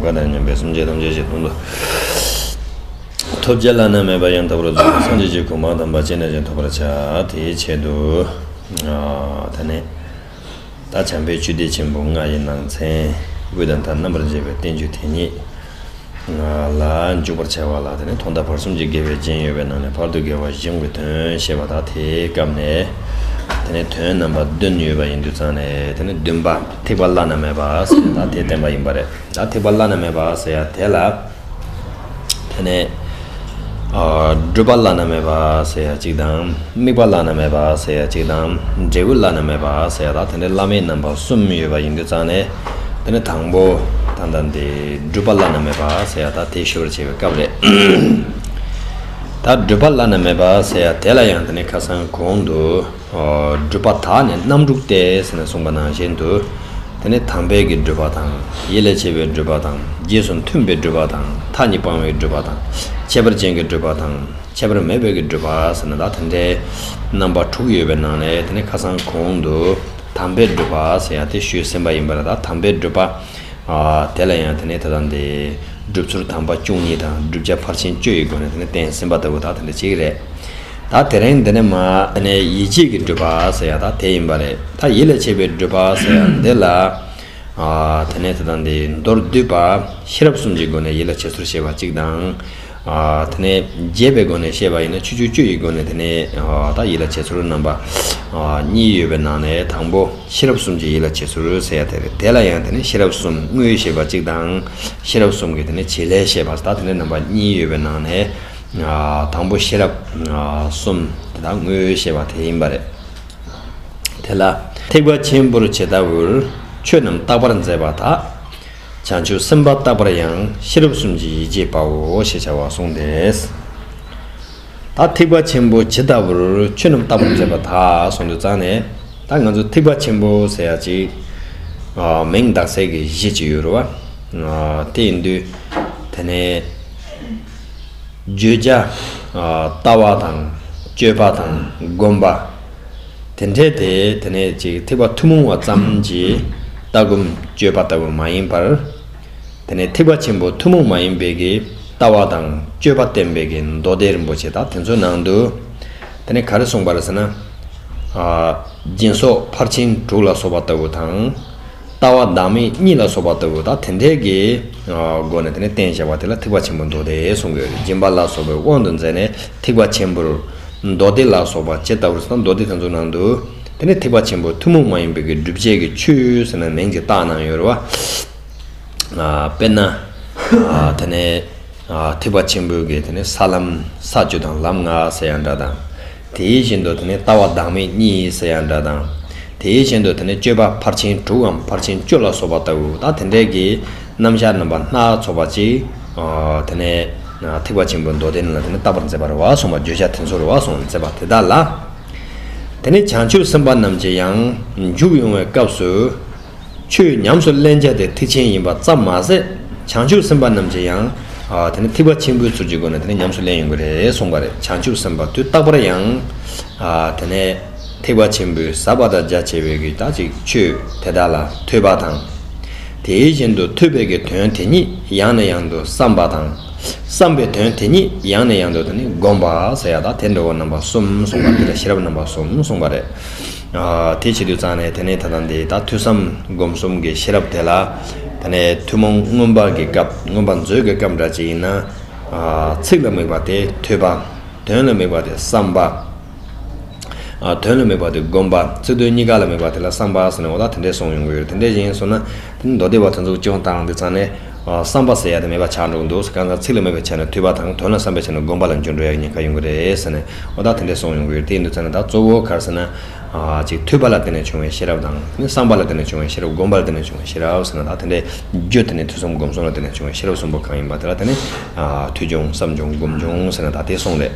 བཀའ་དང་མཉམ་པའི་སེམས་ཅན་ཐམས་ཅད་ཆེ་མཐོང་དུ་ཐོབ། རྗེ་བླ་ན་མེད་པ་ཡང་དག་པར་རྫོགས་པའི་སངས་རྒྱས་ཀྱི་གོ་འཕང་དམ་པ་ཅི་ནས་ཀྱང་ཐོབ་པར་བྱ། དེའི་ཆེད་དུ། ད་ནི། རྟ་བྱམས་པའི་བཅུད་སྡེ་ཆེན་པོ་ལྔ་ཡི་ནང་ཚན། དབུས་དང་མཐའ་རྣམ་པར་འབྱེད་པའི་བསྟན་བཅོས་དེ་ཉིད། ལ་འཇུག་པར་བྱ་བ་ལ་དེ་ནི་ཐོག་མཐའ་བར་གསུམ་གྱི་དགེ་བའི་རྒྱན་ཡོད་པའི་ནང་ནས་བར་དུ་དགེ་བ་གཞུང་གི་དོན་བཤད་པ་དག་དེའི་སྐབས་ནས། དེ་ནི་དོན་རྣམ་པ་བདུན་ཡོད་པ་ཡིན་དུ་བརྩམས་ནས་དེ་ནི་བདུན་པ། ཐེག་པ་བླ་ན་མེད་པ་ཟེར་ཡ་ད་དེ་བསྟན་པ་ཡིན་པ་རེད་ད་ཐེག་པ་བླ་ན་མེད་པ་ཟེར་ཡ་དེ་ལ་དེ་ནས་སྒྲུབ་པ་བླ་ན་མེད་པ་ཟེར་ཡ་གཅིག་དང་དམིགས་པ་བླ་ན་མེད་པ་ཟེར་ཡ་གཅིག་དང་འབྲས་བུ་བླ་ན་མེད་པ་ཟེར་ཡ་ད་དེ་འདྲའི་བླ་མེད་རྣམ་པ་གསུམ་ཡོད་པ་ཡིན་དུས་ཙང་ནས་དེ་ནས་དང་པོ་ད་ལྟ་འདི་སྒྲུབ་པ་བླ་ན་མེད་པ་ཟེར་ཡ་ད་དེ་ཞུ་བར་བྱེད་པའི་སྐབས་རེད་ད་སྒྲུབ་པ་བླ་ན་མེད་པ་ཟེར་ཡ་དེ་ལ་ཡང་དེ་ནས་ཁ་སང་གོང་དུ། སྒྲུབ་པ་དག་ནི་རྣམ་དྲུག་སྟེ་ཟེར་ནས་གསུངས་པ་ནང་བཞིན་དུ། དེ་ནི་དམ་དཔལ་གྱི་སྒྲུབ་པ་དང། ཡིད་ལ་བྱེད་པའི་སྒྲུབ་པ་དང། རྗེས་སུ་མཐུན་པའི་སྒྲུབ་པ་དང། མཐའ་གཉིས་སྤང་བའི་སྒྲུབ་པ་དང། ཁྱད་པར་ཅན་གྱི་སྒྲུབ་པ་དང། ཁྱད་པར་མེད་པའི་གྱི་སྒྲུབ་པ་ཟེར་ན་དག་དེ་འདྲའི་རྣམ་པ་དྲུག་ཡོད་པའི་ནང་ནས་དེ་ནི་ཁ་སང་གོང་དུ་དམ་པའི་སྒྲུབ་པ་ཟེར་ཡང་དེ་ཞུས་ཟིན་པ་ཡིན་པ་ལ་དག་དམ་པའི་སྒྲུབ་པ། དེ་ལ་ཡང་དེ་ནི་དེ་དང་དེ། སྒྲུབ་ཚུལ་དམ་པ་བཅུ་གཉིས་དང་བསྒྲུབ་བྱ་ཕར་ཕྱིན་བཅུ་ཡི་སྒོ་ནས་དེ་ནི་བསྟན་ཟིན་པ་ལྟ་བུ་དག་དེ་འདྲ་ཅིག་རེད། ད་དེ་རིང་འདི་ནས་མ་ནས་ཡིད་ཆེས་ཀྱི་འགྲུལ་པ་ཟེར་ཡག་ད་དེ་ཡིན་པ་རེད་ད་ཡིད་ལ་བྱེད་པའི་འགྲུལ་པ་ཟེར་ཡག་འདི་ལ་དེ་ནས་དེ་དང་འདི་མདོར་བསྡུས་པ་ཤེས་རབ་གསུམ་གྱི་སྒོ་ནས་ཡིད་ལ་བྱེད་ཚུལ་ཤེས་པ་གཅིག་དང། དེ་ནས་རྒྱས་པའི་སྒོ་ནས་ཤེས་པ་ཡིན་ན་ཆུ་ཆུ་བཅུ་ཡི་སྒོ་ནས་དེ་ནས་ད་ཡིད་ལ་བྱེད་ཚུལ་རྣམ་པ་གཉིས་ཡོད་པའི་ནང་ནས་དང་པོ་ཤེས་རབ་གསུམ་གྱི་ཡིད་ལ་བྱེད་ཚུལ་ཟེར་ཡག་དེ་རེད་དེ་ལ་ཡང་དེ་ནས་ཤེས་རབ་གསུམ་དངོས་ཤེས་པ་གཅིག་དང་ཤེས་རབ་གསུམ་གྱི་དེ་ནས་བྱེད་ལས་ཤེས་པ་ད་དེ་ནས་རྣམ་པ་གཉིས་ཡོད་པའི་ནང་ནས། དང་པོ་ཤེས་རབ་གསུམ་དེ་དག་དངོས་ཞེས་པ་དེ་ཡིན་པ་རེད། དེ་ལ་ཐེག་པ་ཆེན་པོར་ཇི་ལྟ་བུར་ཆོས་རྣམས་རྟག་པར་མཛད་པ་དག། བྱང་ཆུབ་སེམས་དཔའ་རྟག་པར་ཡང་ཤེས་རབ་གསུམ་གྱི་ཡིད་ཆེས་པའོ་ཞེས་བྱ་བ་གསུངས་ཏེ། ད་ཐེག་པ་ཆེན་པོ་ཇི་ལྟ་བུར་ཆོས་རྣམས་རྟག་པར་མཛད་པ་དག་གསུང་དུ་བརྩམས་ནས་ད་ང་ཚོ་ཐེག་པ་ཆེན་པོ་ཟེར་ཡ་ཅིག། མིང་གདགས་སྲེད་ཀྱི་གཞི་ཅིག་ཡོད་རུང་བ། དེ་ཡིན་དུས་དེ་ནས། བརྗོད་བྱ། ལྟ་བ་དང་སྤྱོད་པ་དང་སྒོམ་པ། དེ་འདྲེས་ཏེ་དེ་ནས་ཅིག་ཐེག་པ་ཐུན་མོང་བ་ཙམ་གྱི་ལྟ་སྒོམ་སྤྱོད་པ་ལྟ་བུ་མ་ཡིན་པར། དེ་ནས་ཐེག་པ་ཆེན་པོ་ཐུན་མོང་མ་ཡིན་པའི་ཀྱི་ལྟ་བ་དང་སྤྱོད་པ་བསྟན་པའི་ཀྱི་མདོ་སྡེ་རིན་པོ་ཆེ་དག་དེ་ཚོའི་ནང་དུ། དེ་ནས་ག་རེ་གསུངས་པ་རེད་ཟེར་ན། སྦྱིན་སོགས་ཕར་ཕྱིན་དྲུག་ལ་སོགས་པ་ལྟ་བུ་དང། ལྟ་བ་བདག་མེད་གཉིས་ལ་སོགས་པ་ལྟ་བུ་དག་དེ་འདྲའི་གི་སྒོ་ནས་བསྟན་བྱ་བ་དེ་ལ་ཐེག་པ་ཆེན་པོ་མདོ་སྡེ་གསུང་གི་སྦྱིན་པ་ལ་སོགས་པའི་དབང་དུ་མཛད་ནས་ཐེག་པ་ཆེན་པོར། མདོ་སྡེ་ལ་སོགས་པ་ཇི་ལྟ་བུར་ཟེར་ན་མདོ་སྡེ་དེ་ཚོ་ནང་དུ། དེ་ནི་ཐེག་པ་ཆེན་པོ་ཐུན་མོང་མ་ཡིན་པའི་གི་སྒྲུབ་བྱེད་ཀྱི་ཆོས་ཟེར་ན་མིང་གི་རྟགས་ནང་ཡོད་རེད་བ། དཔེར་ན། དེ་ནས། ཐེག་པ་ཆེན་པོའི་གི་དེ་ནས་ས་ལམ་ས་བཅུ་དང་ལམ་ལྔ་ཟེར་ཡང་འདྲ་དང། དེ་ཡི་བཞིན་དུ་དེ་ནི་ལྟ་བ་བདག་མེད་གཉིས་ཡིན་ཟེར་ཡང་འདྲ་དང། དེ་ཡི་བཞིན་དུ་དེ་ནི་སྤྱོད་པ་ཕར་ཕྱིན་དྲུག་གམ་ཕར་ཕྱིན་བཅུ་ལ་སོགས་པ་ལྟ་བུ་དང་དེ་འདྲའི་གི། རྣམ་གཞག་རྣམ་པ་སྣ་ཚོགས་པ་ཅིག། དེ་ནས། ཐེག་པ་ཆེན་པོའི་མདོ་སྡེ་རྣམས་ལ་དེ་ནི་ལྟ་བར་མཛད་པར་བ་སོང་བ་བརྗོད་བྱ་དེ་ཚོར་བ་སོང་མཛད་པ་དེ་དག་ལ། དེ་ནི་བྱང་ཆུབ་སེམས་དཔའ་རྣམས་ཀྱི་ཡང། འཇུག་ཡོང་བའི་སྐབས་སུ། ཆོས་ཉམས་སུ་ལེན་བྱ་དེ་ཐེག་ཆེན་ཡིན་པ་ཙམ་མ་ཟད་བྱང་ཆུབ་སེམས་དཔའ་རྣམས་ཀྱིས་ཡང། དེ་ནི་ཐེག་པ་ཆེན་པོའི་ཚུལ་གྱི་སྒོ་ནས་དེ་ནི་ཉམས་སུ་ལེན་ཡོང་གི་རེད་གསུངས་པ་རེད་བྱང་ཆུབ་སེམས་དཔའ་དུས་རྟག་པར་ཡང། དེ་ནས་ཐེག་པ་ཆེན་པོའི་ཟབ་པ་དང་རྒྱ་ཆེ་བའི་གིས་དག་ཅིག་ཆོས་དེ་དག་ལ་ཐོས་པ་དང། དེའི་བཞིན་དུ་ཐོས་པའི་གིས་དོན་དེ་ཉིད་ཡང་ནས་ཡང་དུ་བསམ་པ་དང། བསམས་པའི་དོན་དེ་ཉིད་ཡང་ནས་ཡང་དུ་དེ་ནི་བསྒོམ་པ་ཟེར་ཡག་དག་དེ་འགྲོ་བ་རྣམ་པ་གསུམ་གསུངས་པ་འདི་ལ་ཤེས་རབ་རྣམ་པ་གསུམ་གསུངས་པ་རེད། དེ་བྱེད་དུ་བཅངས་ནས་དེ་ནས་ད་ལྟ་འདི་ད་ཐོས་བསམ་སྒོམ་གསུམ་གྱི་ཤེས་རབ་དེ་ལ། ད་ནས་ཐུན་མོང་མངོན་པ་གྱི་སྐབས་མངོན་པ་མཛོད་ཀྱི་སྐབས་འདྲ་ཅིག་ཡིན་ན། ཚིག་ལ་དམིགས་པ་དེ་ཐོས་པ། དོན་ལ་དམིགས་པ་དེ་བསམ་པ། དོན་ལ་དམིགས་པ་དེ་སྒོམ་པ། ཚིག་དོན་གཉིས་ཀ་ལ་དམིགས་པ་དེ་ལ་བསམ་པ་ཟེར་ནས་འོ་ད་དེ་འདྲའི་གསུང་ཡོང་གི་ཡོད་རེད་དེ་འདྲའི་བཞིན་སོང་ན། མདོ་སྡེ་བ་ཚོ་འཛུགས་སྐྱོང་སྟངས་འདི་ཚང་ནས་བསམ་པ་ཟེར་ཡག་དེ་མེད་པ་ཆགས་འགྲོ་གི་འདུག་གང་ལྟར་ཚིག་ལ་མོས་པའི་ཆ་ནས་ཐོས་པ་དང་དོན་ལ་བསམ་པའི་ཆ་ནས་བསྒོམ་པ་ལ་འཇུག་འགྲོ་ཡག་ཉེན་ཁ་ཡོང་གི་རེད་ཟེར་ནས་བ་ད་དེ་འདྲས་སོང་ཡོང་གི་ཡོད་དེ་འདུག་ཚེ་ན་ད་གཙོ་བོ་གར་ཟེར་ན། གཅིག་ཐོས་པ་ལ་བརྟེན་ནས་བྱུང་བའི་ཤེས་རབ་དང། གཉིས་བསམ་པ་ལ་བརྟེན་ནས་བྱུང་བའི་ཤེས་རབ་བསྒོམ་པ་ལ་བརྟེན་ནས་བྱུང་བའི་ཤེས་རབ་ཟེར་ན་ད་དེ་འདྲས་རྒྱུ་དེ་ནི་ཐོས་བསམ་སྒོམ་གསུམ་ལ་བརྟེན་ནས་བྱུང་བའི་ཤེས་རབ་གསུམ་པོ་གང་ཡིན་པ་དེ་ལ་བརྟེན་ནས། ཐོས་བྱུང་བསམ་བྱུང་སྒོམ་བྱུང་ཟེར་ན་ད་དེ་སོང་རེད།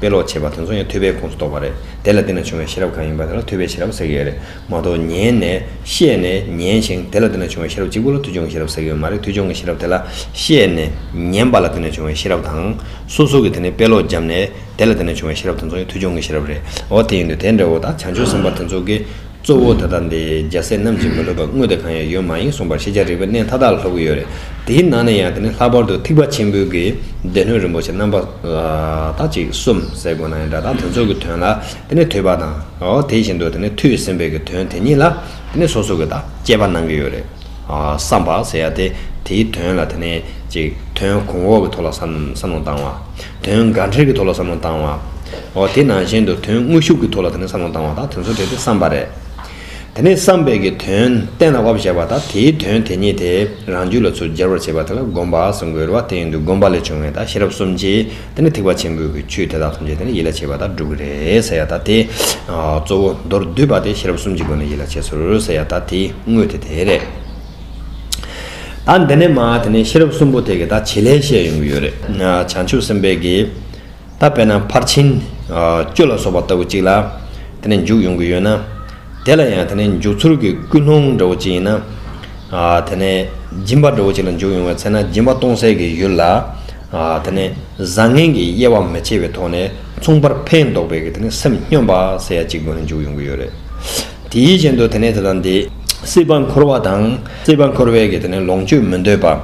དཔེ་ཀློག་བྱེད་པ་དེ་ཚོ་ཡང་ཐོས་པའི་ཁོངས་སུ་གཏོགས་པ་རེད། དེ་ལ་བརྟེན་ནས་བྱུང་བའི་ཤེས་རབ་གང་ཡིན་པ་དེ་ལ་ཐོས་པའི་ཤེས་རབ་ཟེར་གྱི་ཡོད་རེད་མ་གཏོགས་ཉན་ནས། ཤེས་ནས། ཉན་ཞིང་དེ་ལ་བརྟེན་ནས་བྱུང་བའི་ཤེས་རབ་གཅིག་པུ་ལ་ཐོས་བྱུང་གི་ཤེས་རབ་ཟེར་གྱི་ཡོད་མ་རེད་ཐོས་བྱུང་གི་ཤེས་རབ་དེ་ལ། ཤེས་ནས། ཉན་པ་ལ་བརྟེན་ནས་བྱུང་བའི་ཤེས་རབ་དང། སོ་སོ་གི་དེ་ནས་དཔེ་ཀློག་བརྒྱབ་ནས། དེ་ལ་བརྟེན་ནས་བྱུང་བའི་ཤེས་རབ་དེ་ཚོ་ཡང་ཐོས་བྱུང་གི་ཤེས་རབ་རེད། འོ་དེ་ཡིན་དུས་དེ་འདྲ་བོ་དང་བྱང་ཆུབ་སེམས་དཔའ་དེ་ཚོ་གི། གཙོ་བོ་ད་ལྟ་འདི་རྒྱ་བཟས་ནམ་ཞིག་མི་ལྷོད་པ་དངོས་དེ་གང་ཡང་ཡོད་མ་ཡིན་གསུངས་པར་ཤེས་བྱ་རིག་པའི་གནས་མཐའ་དག་ལ་ལྷོད་གི་ཡོད་རེད་དེའི་ནང་ནས་ཡང་དེ་ནི་ལྷག་པར་དུ་ཐིགས་པ་ཆེན་པོའི་གི་སྡེ་སྣོད་རིན་པོ་ཆེ་རྣམ་པ་དག་ཅིག་གསུམ་ཟེར་དགོས་ན་ཡང་སྒྲ་དག་དོན་ཚོགས་ཀྱི་དོན་ལ་དེ་ནི་ཐོས་པ་དང་འོ་དེ་བཞིན་དུ་དེ་ནི་ཐོས་ཟིན་པའི་གི་དོན་དེ་ཉིད་ལ་དེ་ནི་སོ་སོ་གི་དག་དཔྱད་པ་གནང་གི་ཡོད་རེད། བསམ་པ་ཟེར་ཡག་སྟེ། དེའི་དོན་ལ་དེ་ནས་ཅིག། དོན་གོང་འོག་གི་ཐོག་ལ་བསམ་བློ་བཏང་བ། དོན་འགའ་འཁྲིར་གྱི་ཐོག་ལ་བསམ་བློ་བཏང་བ། འོ་དེ་ནང་བཞིན་དུ་དོན་དངོས་ཤུགས་ཀྱི་ཐོག་ལ་དེ་ནས་བསམ་བློ་བཏང་བ་དང་དོན་ཚོད་དྲེགས་ཏེ་བསམ་པ་རེད། དེ་ནས་བསམ་པས་ཀྱི་དོན་གཏན་ལ་དབབ་བཞག་པ་དང་དེའི་དོན་དེ་ཉིད་དེ་རང་རྒྱུད་ལ་ཚུར་སྦྱར་བར་བྱེད་པ་དེ་ལ་སྒོམ་པ་ཟེར་འགོད་རོལ་བ་དེ་ཡིན་དུས་སྒོམ་པ་ལས་བྱུང་བའི་དང་ཤེས་རབ་གསུམ་གྱིས་དེ་ནི་ཐེག་པ་ཆེན་པོའི་གི་ཆོས་དེ་དག་ཐམས་ཅད་དེ་ནི་ཡིད་ལ་བྱེད་པ་དག་སྒྲུབ་ཀྱི་རེད་ཟེར་ཡག་ད་དེ། གཙོ་བོ་མདོར་བསྡུས་པ་དེ་ཤེས་རབ་གསུམ་གྱི་སྒོ་ནས་ཡིད་ལ་བྱེད་ཟུར་ཟེར་ཡག་ད་དེའི་དངོས་དེ་དེ་རེད། ད་འདི་ནས་མ་དེ་ནས་ཤེས་རབ་གསུམ་པོ་དེ་གི་ད་བྱེད་ལས་བཤད་ཡོང་གི་ཡོད་རེད། བྱང་ཆུབ་སེམས་དཔའི་གི། ད་དཔེར་ན་ཕར་ཕྱིན། སྐྱོ་ལ་སོགས་པ་ལྟ་བུ་གཅིག་ལ། དེ་ནས་འཇུག་ཡོང་གི་ཡོད་ན། དེ་ལ་ཡང་དེ་ནས་འཇུག་ཚུལ་གི་ཀུན་སློང་འདྲ་བོ་གཅིག་ཡིན་ན། དེ་ནས་སྦྱིན་པ་འདྲ་བོ་གཅིག་ལ་འཇུག་ཡོང་བའི་ཚེ་ན་སྦྱིན་པ་སྟོང་གསལ་གི་ཡུལ་ལ། དེ་ནས་བཟང་ངན་གྱི་དབྱེ་བ་མི་ཕྱེ་བའི་ཐོག་ནས་མཚུངས་པར་ཕན་འདོགས་པའི་སེམས་སྙོམས་པ་ཟེར་ཡ་གཅིག་པུ་འཇུག་ཡོང་གི་ཡོད་རེད། དེའི་རྐྱེན་དུ་དེ་ནས་དེ་དང་དེ། སྲིད་པ་འཁོར་བ་དང་སྲིད་པ་འཁོར་བའི་ལོངས་སྤྱོད་མི་འདོད་པ།